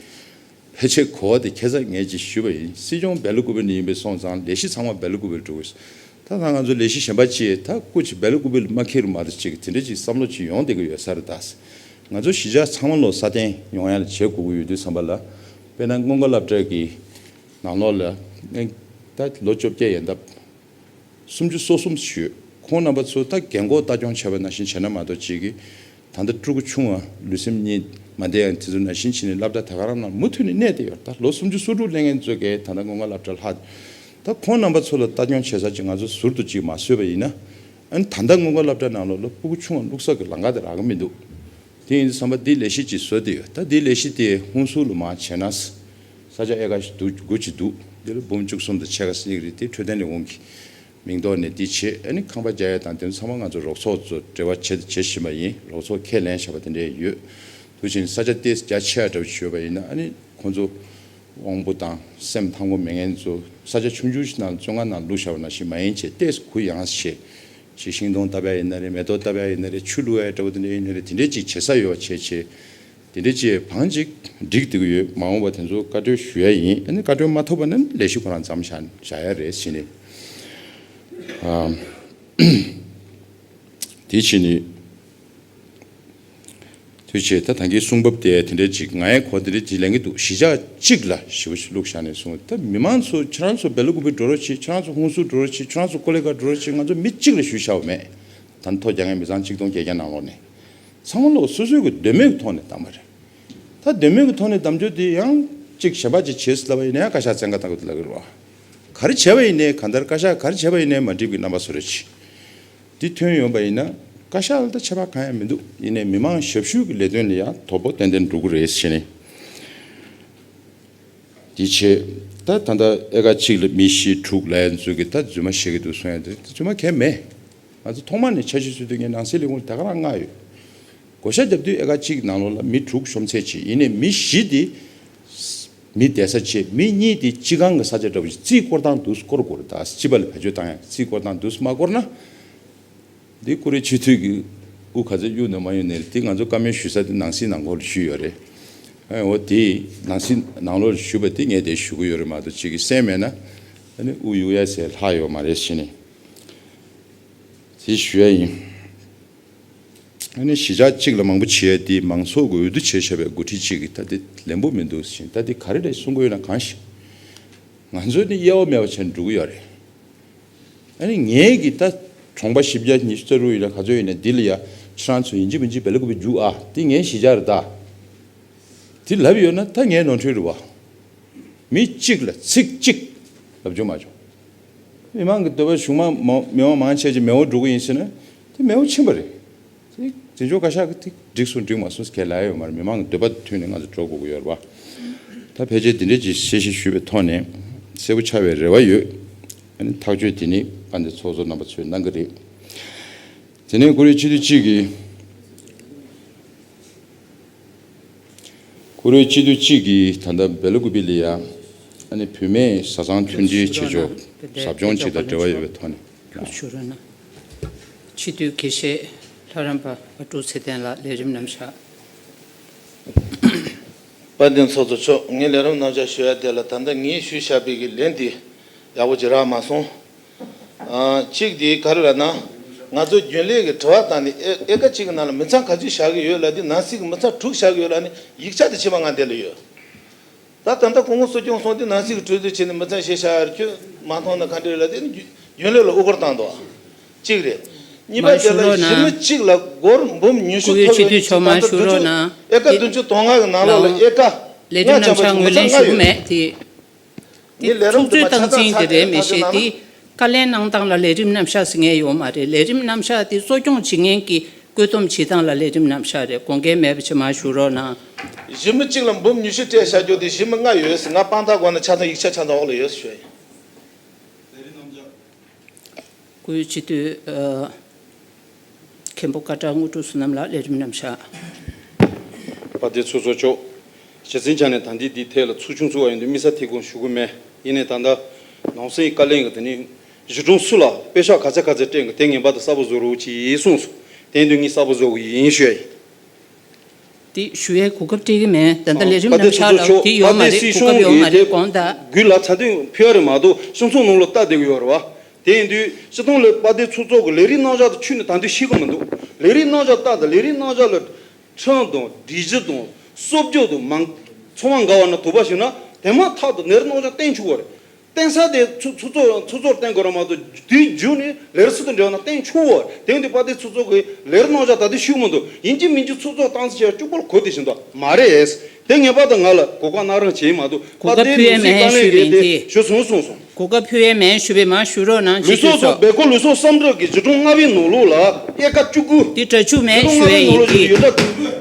ཕལ་ཆེར་གོ་བ་དེ་ཁྱེད་ཚ་ངས་ཅིག་ཞུས་པ་ཡིན་སྲིད་སྐྱོང་བེ་ལོ་ཀུ་བེ་ནི་ཡིན་པའི་སོང་ཙང་ལས་གཞི་ཚང་མ་བེ་ལོ་ཀུ་བེ་ལ་འགྲོ་གི་ཡོད་ད་ལྷ་ང་ཚོ་ལས་གཞི་གཞན་པ་ཅི་ད་ཀུ་ཅིག་བེ་ལོ་ཀུ་བེ་ལ་མ་ཁེལ་རུ་མ་གཏོགས་ཅིག་དེ་འདྲའི་ཅིག་བསམ་བློ་ཅིག་ཡོང་བདེ་གི་ཡོད་ས་རེད་ད་ང་ཚོ་གཞིས་ཆགས་ཚང་མ་ལོ་སར་བརྟེན་ཡོང་ཡ་ལ་བྱེད་དགོ་གི་ཡོད་དུས་བསམ་པ་ལ། དཔེར་ན་སྔོན་མཁའ་བསླབ་གྲྭའི་གི་ནང་ལོག་ལ་ནས་ད་ལོ་བཅོ་བརྒྱད་ཡན་འདབ་སུམ་ཅུ་སོ་གསུམ་བཞུད་ཁོང་རྣམ་པ་ཚོ་ད་རྒན་འཁོགས་ལྟ་སྐྱོང་བྱས་པ་ན་བཞིན་བྱས་ན་མ་གཏོགས་ཅིག་གི་ད་ལྟ་སྤྲུལ་སྐུ་ཆུང་བ་ལུས་སེམས་གཉིས་མ་བདེ་ཡང་དེ་ཚོ་ན་བཞིན་བྱས་ནས་བསླབ་གྲྭ་ད་ག་རང་ན་མུ་མཐུད་ནས་གནས་ཏེ་ཡོད་ད་ལོ་སུམ་ཅུ་སོ་དྲུག་གླེང་ངན་རྩོད་གས་ད་ད་སྔོན་མཁའ་བསླབ་གྲྭ་ལྷག་ད་ཁོང་རྣམ་པ་ཚོ་ལ་ལྟ་སྐྱོང་བྱེད་ས་ཅིག་ང་ཚོ་ཟུར་དུ་ཅིག་མ་བཟོས་པ་ཡིན་ན་ཨ་ནི་ད་ལྟ་སྔོན་མཁའ་བསླབ་གྲྭ་ནང་ལོག་ལ་སྤུ་གུ་ཆུང་བ་བླུགས་ས་གི་ལང་ཀ་དེ་རག་གི་མི་འདུག་དེ་ཡིན་དུ་བསམ་པ་འདི་ལས་གཞི་ཅིག་བཟོས་ཏེ་ཡོད་ད་འདི་ལས་གཞི་དེ་ཧུན་སུར་ལུ་མ་བྱས་ན། ས་ཆ་ཨེ་ཁ་ཞིག་འདུག་དགོས་ཅི་འདུག་འདི་ལོ་འབུམ་བཅུ་གསུམ་དང་ཕྱེད་ཀ་སྲིད་ཡིག་རིག་དེ་འཕྲོད་བསྟེན་ལས་ཁུངས་ཀྱི་མིང་ཐོག་ནས་འདི་བྱེད་ཨ་ནི་ཁང་པ་བརྒྱ་ཡས་དང་དེ་ཚོ་ཚང་མ་ང་ཚོ་རོགས་ཚོགས་ཚོ་འབྲེལ་བ་བྱེད་དུ་བྱེད་བཞིན་པ་ཡིན་རོགས་ཚོགས་ཁས་ལེན་བྱ་བ་དེ་འདྲས་ཡོད་དུ་ཕྱིན་ས་ཆ་སྟེ་རྒྱ་ཆེ་བ་འདྲ་བོ་ཞིག་ཡོད་པ་ཡིན་ན་ཨ་ནི་ཁོང་ཚོ། དབང་པོ་དང་སེམས་ཐང་གོ་མེད་ངན་ཚོ་ས་ཆ་ཆུང་ཆུང་ཞིག་ནང་བཙོན་ཁང་ནང་ལུས་ཤར་བ་ན་ཞིག་མ་ཡིན་ཆེ་ལྟས་སུ་གུ་ཡངས་སུ་བྱེད། ཅིག་ཤིང་སྡོང་བཏབ་ཡ་ཡིན་ན་རེད་མེ་ཏོག་བཏབ་ཡ་ཡིན་ན་རེད་ཆུ་བླུགས་ཡ་ཡིན་འདྲ་བོ་དེ་འདྲ་ཡིན་ན་རེད་དེ་འདྲས་ཅིག་བྱེད་ས་ཡོད་བ་བྱེད་ཆེ། དེ་འདྲས་ཅིག་བང་ཅིག་བསྒྲིགས་བསྡད་གི་ཡོད་མ་འོངས་པ་དེ་ཚོ་བཀའ་གྲོས་ཞུ་ཡ་ཡིན་ཨ་ནི་བཀའ་གྲོས་མ་ཐོབ་པ་ན་ནི་ལས་གཞི་ཁོ་རང་བརྩམ་བཞག་ཡ་རེད་བཞི་ནི། དེ་བཞི་ནི། དུས་ཆེ་ད་དང་གི་གསུང་བབ་དེ་དེ་འདྲའི་ཅིག་ང་ཡས་གོ་དེ་འདྲའི་ཅིག་ལེན་གི་འདུག་གཞིས་ཆགས་གཅིག་ལ་ཞེ་བོ་ཞིག་བླུག་བཞག་ནས་བཟུང་ད་མི་མང་ཚོ་ཁྱོད་རང་ཚོ་སྦེ་ལོ་ཀུ་བི་འགྲོ་རོགས་ཆེ་ཁྱོད་རང་ཚོ་ཧུན་སུར་འགྲོ་རོགས་ཆེ་ཁྱོད་རང་ཚོ་ཀོ་ལེ་ཀ་འགྲོ་རོགས་ཆེ་ང་ཚོ་མི་གཅིག་ལ་ཞུ་བཞག་མེད་ད་མཐོ་རྒྱ་ངའི་མི་ཚང་གཅིག་སྟོང་བརྒྱད་བརྒྱ་ནང་ལོགས་ནས་ཚང་མ་ལོགས་སོ་སོའི་གི་འདོད་མོས་གི་ཐོག་ནས་བདམས་པ་རེད་ད་འདོད་མོས་གི་ཐོག་ནས་བདམས་རྒྱུ་དེ་ཡང་ཅིག་ཞེན་པ་ཅིག་བྱེད་སྲིད་ལབ་པ་ཡིན་ནའི་བཀའ་ཤག་བཙན་བཀའ་ད་གུ་དེ་ལ་གི་རོགས་ག་རེ་བྱས་པ་ཡིན་ནའི་གང་ལྟར་བཀའ་ཤག་ག་རེ་བྱས་པ་ཡིན་ནའི་མ་འགྲིག་གི་རྣམ་པ་བཟོ་རོགས་ཆེ། འདི་ཐོན་ཡོང་པ་ཡིན་ན་བཀའ་ཤག་ལ་ཆད་པ་གང་ཡང་མི་འདུག་ཡིན་ནའི་མི་མང་ཞབས་ཞུ་གི་ལས་དོན་ལ་ཡང་དོ་པོ་ཏན་ཏན་འགྲོ་གི་རེད་བྱས་ནས་འདི་བྱས་ད་ད་ལྟ་ཨེ་ཀ་གཅིག་ལ་མི་བཞི་དྲུག་ལས་འཛུལ་གི་ད་རྫུན་མ་བཤད་གི་འདུག་གསུངས་ཡ་འདི་རྫུན་མ་གས་མེད་ང་ཚོ་ཐོག་མ་ནས་ཆ་ཤས་ཚུལ་དུ་ངས་ནང་སྲིད་ལས་ཁུངས་ལ་དེ་ག་རང་མངགས་ཡོད་བགོ་བཤའ་རྒྱབ་དུས་ཨེ་ཀ་གཅིག་ནང་ལོག་ལ་མི་དྲུག་གཤོམ་ཚད་བྱས་ཡིན་ནའི་མི་བཞི་དེ་མི་བསྡད་ས་ཆེ། མི་གཉིས་དེ་སྤྱི་ཁང་གི་ས་ཆ་འདྲ་བོ་ཞིག་རྩིས་བསྐོར་དང་བསྡུ་བསྐོར་དགོས་རེད་ད་སྤྱི་པ་ལ་བེད་སྤྱོད་བཏང་ཡག་གི་རྩིས་བསྐོར་དང་བསྡུ་མ་བསྐོར་ན། འདི་ཀུ་རེ་ཆུ་འཐུས་ཀྱི་དབུ་ག་ཚོད་གཡུག་འདོད་མ་གཡུག་ནི་རེད་དེ་ང་ཚོ་བཀའ་མོལ་ཞུ་ས་དེ་ནང་སྲིད་ནང་ཁོར་ཞུས་ཡོད་རེད། འོ་དེ་ནང་སྲིད་ནང་ལོག་ཞུ་བ་དེ་ངས་དེ་ཞུ་གི་ཡོད་རེད་མ་གཏོགས་ཅིག་གི་གསན་མེད་ན། ཨ་ནི་དབུ་གཡུག་ཡ་ཟེར་ལྷག་ཡོད་མ་རེད་ཞེས་ནས་དེ་ཞུ་ཡ་ཡིན། ནི་གཞིས་ཆགས་གཅིག་ལ་མང་པོ་བྱས་ཏེ་མང་ཚོགས་ཀྱི་འོས་བསྡུ་བྱས་བྱས་པའི་མགོ་ཁྲིད་ཅིག་གིས་ད་དེ་ལན་པོ་མི་འདུག་ཟིན་ད་དེ་ག་རེ་རེད་གསུང་གི་ཡོད་ན་གང་ཞིག་ང་ཚོས་ནི་གཡལ་བ་མེད་པ་བྱས་འགྲོ་གི་ཡོད་རེད་ཨ་ནི་ངས་ཀྱི་ད་གྲོངས་པ་བཞི་བརྒྱ་ཉི་ཤུ་རྩ་དྲུག་ཡིན་ན་ག་ཚོད་ཡིན་ན་འདི་ལ་ཡ་ཁྱེད་རང་ཚོ་ཡིན་གཅིག་མིན་གཅིག་བལ་གོ་བའི་རྒྱུག་ཨ་དེ་ངའི་གཞིས་ཆགས་རེད་ད་དེ་ལབ་ཡོད་ན་ད་ངའི་ནོར་འཁྲུལ་རེད་བ་མི་གཅིག་ལ་ཚིག་གཅིག་ལབ་བྱུང་མ་བྱུང། མི་མང་གི་འདོད་པ་གཞུང་མང་མི་དམངས་མང་ཆེ་ཆེ་མེ་འོ་འགྲོ་གི་ཡིན་ཟེར་ན་དེ་མེ་འོ་ཕྱིན་པ་རེད། དེ་འཛིན་སྐྱོང་བཀའ་ཤག་གི་ཐིག་འགྲིག་སུ་འགྲིག་མ་སུ་གལ་ལ་ཡོད་མ་རེད་མི་མང་གི་འདོད་པ་དེ་མཐུན་ནས་ང་ཚོ་འགྲོ་དགོས་ཀྱི་ཡོད་རེད་བ། ད་ཕལ་ཆེར་འདི་འདྲའི་གྱི་དཔྱད་གཞི་ཞུས་པའི་ཐོག་ནས་གསལ་པོ་ཆགས་པའི་རེ་བ་ཡོད། ཨ་ནི་ཐག་གཅོད་དེ་ནི་པ་འདི་ཚོགས་གཙོ་རྣམ་པ་ཚོས་གནང་གི་རེད། དེ་ནས་ཀུ་རེ་གཅིག་དུས་གཅིག་གི། ཁུ་རུའི་སྤྱི་འཐུས་གཅིག་གིས་ད་ལྟ་སྦེ་ལོ་ཀུ་པི་ལི་ཡ་ནི་བུད་མེད་བཟའ་ཚང་མཐུན་སྒྲིལ་བྱེད་ཕྱོགས་ཟབ་སྦྱོང་བྱེད་དང་འབྲེལ་བ་ཡོད་པའི་ཐོག་ནས། སྤྱི་འཐུས་དགེ་བཤེས་ལྷ་རམས་པ་བ་ཀྲུག་ཚེ་བརྟན་ལགས་ལས་རིམ་རྣམ་བཞག། དཔལ་ལྡན་ཚོགས་གཙོ་མཆོག་ངས་ལས་རིམ་རྣམ་བཞག་ཞུ་ཡ་དེ་ལ་ད་ལྟ་ངས་ཞུ་བཞག་པའི་གི་ལན་དེ་ཡག་པོ་ཇི་རག་མ་སོང། གཅིག་དེ་ག་རེ་རེད་ན། ང་ཚོ་རྒྱུན་ལས་ཀྱི་དྲི་བ་དང་ནི་ཨེ་ཀ་གཅིག་གི་ནང་ལ་མི་ཚང་ག་ཚོད་བཞག་གི་ཡོད་ལ་དེ་ནང་སྲིད་ཀྱི་མི་ཚང་དྲུག་བཞག་གི་ཡོད་ལ་ནི་ཡིག་ཆ་དེ་ཕྱི་མ་ང་འདི་ལ་ཡོད། ད་ད་ལྟ་ཁོང་ངོ་སོ་སྐྱོང་སོང་དེ་ནང་སྲིད་ཀྱི་གྲོས་བསྡུར་བྱས་ནས་མི་ཚང་བཞེས་བཞག་ཡར་ཁྱོད་མ་མཐོང་ན་ག་འདྲ་རེད་ལ་དེ་ནི་རྒྱུན་ལས་ལ་དབུ་སྐོར་བཏང་འདུག་གཅིག་རེད། གཉིས་པ་དེ་ལ་གཞི་མི་གཅིག་ལ་སྒོར་འབུམ་ཉུས་ཤུ་ཐོབ་ཡོད་ནི་གཅིག་ད་ལྟ་བདུན་ཅུ་ཨེ་ཀ་བདུན་ཅུ་དོང་ལྔ་གི་ནང་ལོགས་ལ་ཨེ་ཀ་ལྔ་བྱམས་པ་ཅུང་མི་ཚང་ལྔ་ཡོད། ནི་ལས་རིམ་དུ་མ་ཆ་ཚང་ཚགས་སྒྲིག་དང་ཐག་གཅོད་གནང་ན། བཀའ་ལན་གནང་སྟངས་ལ་ལས་རིམ་རྣམ་གཞག་ཟེར་ངེས་ཡོད་མ་རེད་ལས་རིམ་རྣམ་གཞག་དེ་གཙོ་སྐྱོང་བྱེད་མཁན་གྱི་བཀོད་འདོམས་བྱེད་སྟངས་ལ་ལས་རིམ་རྣམ་གཞག་རེད་དགོངས་འགལ་མེད་པ་ཕྱི་མར་ཞུ་རོགས་གནང། གཞི་མི་གཅིག་ལ་འབུམ་ཉུས་བཞི་སྤྲད་བཞག་རྒྱུ་དེ་གཞི་མི་ལྔ་ཡོད་ང་དཔང་རྟགས་སྒོ་ནས་ཆ་ཚང་ཡིག་ཆ་ཆ་ཚང་འོག་ལ་ཡོད་ཟེར་ཞོར་ཡིན། སྐུའི་སྤྱི་བསྟོད། མཁན་པོ་བཀའ་བྲག་དངོས་གྲུབ་བསོད་ནམས་ལགས་ལས་རིམ་རྣམས་བྱ། པ་བདེ་ཚུལ་བཟོ་ཆོག། རྗེ་བཙུན་ཅག་ནས་ད་འདི་འདི་ཐད་ལ་ཚུགས་ཆུང་ཚུགས་བ་ཡོང་དུས་དམིགས་ས་དེ་གོ་ཞུ་གི་མེད་ཡིན་ནས་ད་ལྟ་ནང་སེང་བཀའ་ལན་གི་དེ་ནི་གཞི་གྲོང་སུ་ལ་དཔེ་ཤག་ག་ཚད་ག་ཚད་སྤྲད་གི་དེ་ངན་པ་དེ་གསར་པོ་བཟོ་རོགས་གྱིས་གསུངས་སོ་དེ་འདོད་ངིས་གསར་པོ་བཟོ་གི་ཡིན་ཞུས་ཡ་ཡིན། དེ་ཞུ་བའི་གོ་སྐབས་སྤྲད་ཀྱི་མེད། ད་ལྟ་ལས་རིམ་རྣམས་ཆགས་ལ་དེ་ཡོད་མ་རེད་གོ་སྐབས་ཡོད་མ་རེད་གོང་ད། དགུའི་ལ་ཚ་དུས་ཕི་ཨ་རི་མ་གཏོགས་གསུམ་ཚོགས་ནང་ལོ་རྟགས་བསྡད་གི་ཡོད་རེད་བ། དེ་ཡིན་དུས་སི་ཏོང་ལི་པ་དེ་ཚོ་ཚོགས་ཀྱི་ལས་རིགས་རྣམ་གཞག་དུ་ཆུད་ནས་ད་དུས་ཤེས་གི་མི་འདུག་ལས་རིགས་རྣམ་གཞག་རྟགས་དང་ལས་རིགས་རྣམ་གཞག་ལ། ཁྲིམས་དང་སྒྲིག་གཞི་དང་གསོབ་སྦྱོད་དུ་མང། ཚོགས་མ་འགའ་བ་ན་དུ་བ་ཞིག་ན་དེ་མ་ཐག་ཏུ་ནེར་རྣམ་གཞག་བསྟན་ཆུག་བ་རེད། བརྟེན་ས་དེ་ཚུ་ཚུ་ཚོ་ཚུ་ཚོར་བརྟེན་དགོས་རང་མ་གཏོགས་དེའི་རྒྱུ་ནི་ལེར་སུ་དང་འབྲེལ་བ་ན་བརྟེན་ཆུག་འོ་དེང་དུས་པ་དེ་ཚུ་ཚོ་གིས་ལེར་གནོང་བྱ་ད་དུས་ཤུགས་མི་འདུག་ཡིན་གྱི་མིན་གྱི་ཚུ་ཚོ་སྟངས་འཚལ་བྱས་བཅུག་པར་གོ་དེ་བཞིན་དུ་མ་རེད་དེ་ངེས་པར་དུ་ང་ལ་གོ་སྐབས་གནང་རང་བྱེད་ཡིན་མ་གཏོགས་གོ་པ་སྐབས་དེའི་ཕུལ་ལུས་བས་སྲིད་མ་བཀའ་ལན་ཞུས་གེ་པས་དེ་དེ་ཞུ་སོང་གསུངས་སོང། གོ་སྐབས་ཕུལ་བས་མ་ཞུས་པས་མ་ཞུ་རོགས་གནང་ལུས་ཅི་ཐུས་སོགས་སོགས། སྦེལ་ཀོབ་ལུས་སོགས་སམ་ཏྲོག་གི་བྱིས་སྒྲུང་ལྔ་བའི་ནོར་ལུག་ལ་དབྱེ་ཁ་བཅུ་དགུ། དེ་དྲ་ཆུ་མས་ཞུ་བས་ཡིན་གྱི།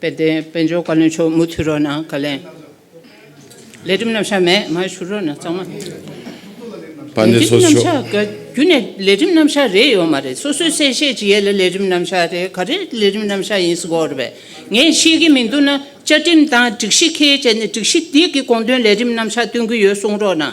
དཔལ་ལྡན་དཔལ་འབྱོར་བཀའ་བློན་མཆོག་མུ་མཐུད་རོགས་གནང་བཀའ་ལན། ལས་འགྲིམ་རྣམ་གཞག་མེད་མ་ཞུ་རོགས་གནང་གཙང་མ། ལས་འགྲིམ་རྣམ་གཞག་ག་རྒྱུ་ནས་ལས་འགྲིམ་རྣམ་གཞག་རེད་ཡོད་མ་རེད་སོ་སོས་གསལ་བཤད་ཅིག་ཡས་ལ་ལས་འགྲིམ་རྣམ་གཞག་རེད་ག་རེ་ལས་འགྲིམ་རྣམ་གཞག་ཡིན་སྒོར་བས་ངས་ཤེས་ཀྱི་མི་འདུག་ན་བཅའ་ཁྲིམས་དང་སྒྲིག་གཞི་ཁས་བཅད་ནས་སྒྲིག་གཞི་འདི་གི་དགོངས་དོན་ལས་འགྲིམ་རྣམ་གཞག་སྟོན་གྱི་ཡོད་གསུང་རོགས་གནང།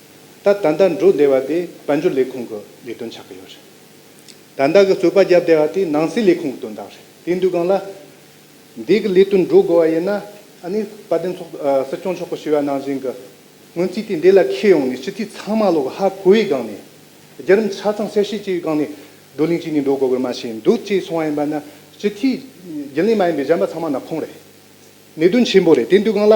ད་ད་ལྟ་འགྲོ་བདེ་བ་དེ་དཔལ་འབྱོར་ལས་ཁུངས་ཀྱི་ལས་དོན་ཆགས་ཀྱི་ཡོད་རེད། ད་ལྟ་གི་རྩོད་པ་རྒྱབ་བདེ་བ་དེ་ནང་སྲིད་ལས་ཁུངས་ཀྱི་དོན་དག་རེད་དེ་འདུག་གང་ལ། འདི་གི་ལས་དོན་འགྲོ་དགོས་བ་ཡིན་ན་ཨ་ནི་དཔལ་ལྡན་ཚོགས་སྲིད་སྐྱོང་མཆོག་གི་བྱིས་བ་ནང་བཞིན་གྱི་སྔོན་རྩིས་དེ་འདི་ལ་ཁེལ་ཡོང་ནས་སྤྱི་འཐུས་ཚང་མ་ལོག་ཧ་གོ་བའི་སྒང་ནས། རྒྱུད་རིམ་ཆ་ཚང་གསལ་བཤད་བྱེད་པའི་སྒང་ནས་བགྲོ་གླེང་བྱས་ནས་འགྲོ་དགོས་པར་མ་ཤེས་འདུག་ཅེས་གསུང་བ་ཡིན་པ་ན་སྤྱི་འཐུས་རྒྱུན་ལས་མ་ཡིན་པའི་གཞན་པ་ཚང་མ་ནག་ཁོང་རེད། གནད་དོན་ཆེན་པོ་རེད་དེ་འདུག་གང་ལ།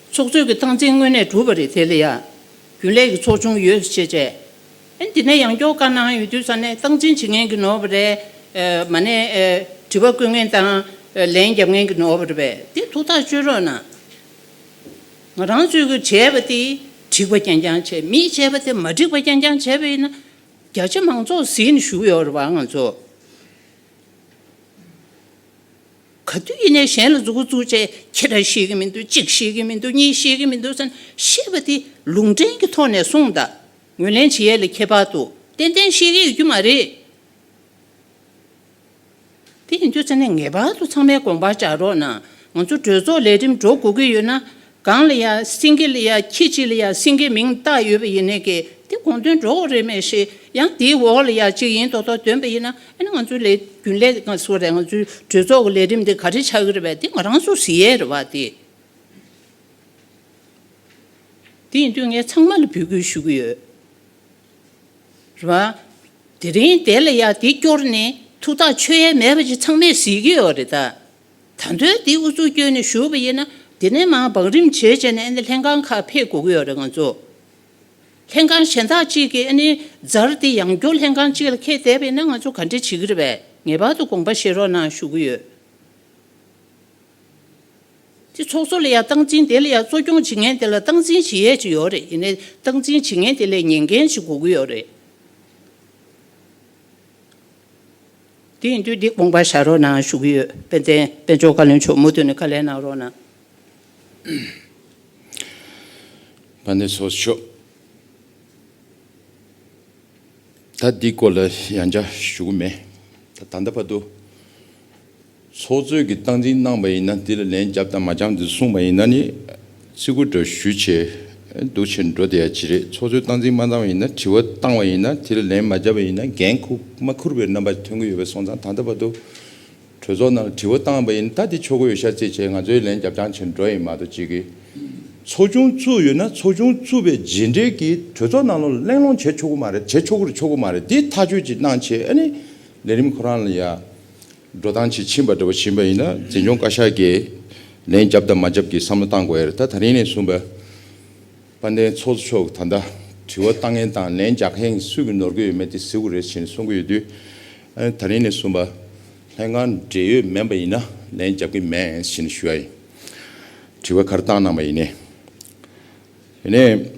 ཚོགས་གཙོས་ཀྱི་སྟངས་འཛིན་དངོས་གནས་གྲུབ་པ་རེད་དེ་ལ་ཡང་རྒྱུན་ལས་ཀྱི་ཚོགས་ཆུང་ཡོད་ཅེས་བཤད། ཨེ་འདི་ནས་ཡང་སྐྱོར་བཀའ་གནང་ཡོད་དུས་ས་གནས་སྟངས་འཛིན་བྱེད་མཁན་གྱི་ནོར་བ་རེད་མ་ནས་དྲི་བ་བཀོད་མཁན་དང་ལན་རྒྱབ་མཁན་གྱི་ནོར་བ་རེད་པས་དེ་ཐུགས་ཐག་གཅོད་རོགས་གནང། ང་རང་ཚོས་ཀྱི་བྱས་པ་དེ་འགྲིག་པ་རྐྱང་རྐྱང་བྱས་མིས་བྱས་པ་དེ་མ་འགྲིག་པ་རྐྱང་རྐྱང་བྱས་པས་ན་རྒྱ་ཆེ་མང་ཚོགས་ཟིན་བཞུགས་ཡོད་རེད་བ་ང་ཚོ། ག་དུས་ཡིན་ནས་གཞན་ལ་རྫུ་གུ་རྫུ་བྱས་ཁྱེད་རང་ཤེས་ཀྱི་མི་འདུག་གཅིག་ཤེས་ཀྱི་མི་འདུག་གཉིས་ཤེས་ཀྱི་མི་འདུག་ཟེར་ན་ཤེས་པ་དེ་ལུང་འདྲེན་གྱི་ཐོག་ནས་གསུངས་དང། ངོས་ལེན་བྱེད་ཡས་ལས་ཁྱད་པར་དུ་ཏན་ཏན་ཤེས་ཀྱི་ཡོད་རྒྱུ་མ་རེད། དེ་ཡིན་དུས་ཚང་མས་ངེས་པར་དུ་ཚང་མའི་དགོངས་པར་བཅག་རོགས་གནང། ང་ཚོ་གྲོས་ཚོགས་ལས་རིམ་འགྲོ་དགོས་ཀྱི་ཡོད་ན། གང་ལ་ཡང་སེང་གེ་ལ་ཡང་ཁྱི་གཅིག་ལ་ཡང་སེང་གེའི་མིང་བཏགས་ཡོད་པ་ཡིན་ནའི་གི་དེ་དགོངས་དོན་འགྲོ་འོག་རེད་མེད་ཤེས་ཡང་དེའི་འོག་ལ་ཡང་གཅིག་ཡིན་ཐོག་ཐོག་འདོན་པ་ཡིན་ན་ཨེ་ན་ང་ཚོའི་ལས་རྒྱུན་ལས་ང་ཚོ་རེད་ང་ཚོའི་གྲོས་ཚོགས་ཀྱི་ལས་རིམ་དེ་ག་རེ་ཆགས་ཀྱི་རེད་བས་དེ་ང་རང་ཚོ་ཟེར་ཡས་རེད་བ་དེ། དེ་ཡིན་དུས་ངས་ཚང་མ་ལ་འབོད་སྐུལ་ཞུ་གི་ཡོད་རེད་བ། དེ་རིང་དེ་ལ་ཡང་དེ་སྐྱོར་ནས་ཐུགས་ཐག་ཆོད་ཡས་མེད་པ་ཅིག་ཚང་མས་ཟེར་གྱི་ཡོད་རེད་ད། ད་དོན་འདི་ཨུ་ཚུགས་སྐྱོན་ནས་ཞུ་བ་ཡིན་ན་འདི་ནས་མང་བང་རིམ་བྱེད་བྱེད་ནས་ཨནི་ལྷན་ཁང་ཁག་འཕེལ་དགོས་ཀྱི་ཡོད་རེད་ང་ཚོ་ལྷན་ཁང་གཞན་དག་ཅིག་གིས་ཨནི་རྫར་འདི་ཡང་སྐྱོར་ལྷན་ཁང་ཅིག་ལ་ཁེལ་བསྡད་པ་ཡིན་ན་ང་ཚོ་ག་འདྲི་བྱེད་ཀྱི་རེད་བས་ངེས་པར་དུ་དགོངས་པ་བཞེས་རོགས་གནང་ཞུ་གི་ཡོད། དེ་ཚོགས་གཙོ་ལ་ཡང་སྟངས་འཛིན་དེ་ལ་ཡང་གཙོ་སྐྱོང་བྱེད་མཁན་དེ་ལ་སྟངས་འཛིན་བྱེད་ཡས་ཅིག་ཡོད་རེད་ཡིན་ནས་སྟངས་འཛིན་བྱེད་མཁན་དེ་ལས་ཉན་མཁན་ཅིག་དགོས་ཀྱི་ཡོད་རེད། དེ་ཡིན་དུས་འདི་དགོངས་པ་བཞག་རོགས་གནང་ཞུ་གི་ཡོད་དཔལ་ལྡན་དཔལ་མཆོག་བཀའ་བློན་མཆོག་མུ་མཐུད་ནས་བཀའ་ལན་གནང་རོགས་གནང། བཀའ་ནན་སོགས་ཆོག། ད་འདི་སྐོར་ལ་ཡང་བསྐྱར་ཞུ་གི་མེད། ད་ལྟ་བར་དུ། ཚོགས་གཙོས་ཀྱི་སྟངས་འཛིན་གནང་བ་ཡིན་ན་འདི་ལ་ལན་བརྒྱབ་དང་མ་བརྒྱབ་འདི་གསུངས་པ་ཡིན་ན་ནི་ཚིག་གུ་འདྲ་ཞུ་ཆེ་འདུག་ཆེ་འགྲོ་དེ་ཡང་ཅི་རེད་ཚོགས་གཙོས་སྟངས་འཛིན་མ་གནང་བ་ཡིན་ན་དྲི་བ་བཏང་བ་ཡིན་ན་དེ་ལ་ལན་མ་བརྒྱབ་པ་ཡིན་ན་འགན་ཁུག་མ་ཁུར་བའི་རྣམ་པ་ཐོན་གྱི་ཡོད་པའི་སོང་ཙང་ད་ལྟ་བར་དུ་གྲོས་ཚོགས་ནང་ལ་དྲི་བ་བཏང་བ་ཡིན་ད་དེ་ཆོ་ག་ཡོད་ཤར་རྩེད་ཆེ་ང་ཚོའི་ལན་བརྒྱབ་ཅང་ཆེ་འགྲོ་ཡིན་མ་གཏོགས་ཅི་གི། ཚོགས་ཆུང་བཙུགས་ཡོད་ན་ཚོགས་ཆུང་བཙུགས་པའི་རྗེས་འབྲེལ་གྱི་གྲོས་ཚོགས་ནང་ལ་གླེང་སློང་བྱེད་ཆོག་གི་མ་རེད་བྱེད་ཆོག་གི་ཆོག་གི་མ་རེད་དེ་ཐག་གཅོད་ཅིག་གནང་ཆེ་ཨ་ནི་ལས་རིམ་ཁོ་རང་ལ་ཡ། འགྲོ་སྟངས་ཇི་བྱིན་པ་འདྲ་བོ་བྱིན་པ་ཡིན་ན་འཛིན་སྐྱོང་བཀའ་ཤག་གིས་ལན་རྒྱབ་དང་མ་རྒྱབ་ཀྱི་བསམ་བློ་བཏང་དགོས་ཡ་རེད་ད་ད་རིང་ནས་བཟུང་དཔལ་ལྡན་ཚོགས་གཙོ་མཆོག་གིས་ད་ལྟ་དྲི་བ་ལྟ་ངན་དང་ལན་རྒྱག་མཁན་སུས་ཀྱི་ནོར་གི་ཡོད་མེད་དེ་གཟིགས་དགོས་རེད་བཞིན་གསུང་གི་ཡོད་དུས་ཨ་ད་རིང་ནས་བཟུང་དཔལ་ལྡན་གང་འབྲེལ་ཡོད་མེད་པ་ཡིན་ན་ལན་རྒྱབ་གི་མེད་བཞིན་ཞུ་ཡ་ཡིན་དྲི་བ་ག་རེ་བཏང་གནང་བ་ཡིན་ནས་ཡིན་ནས།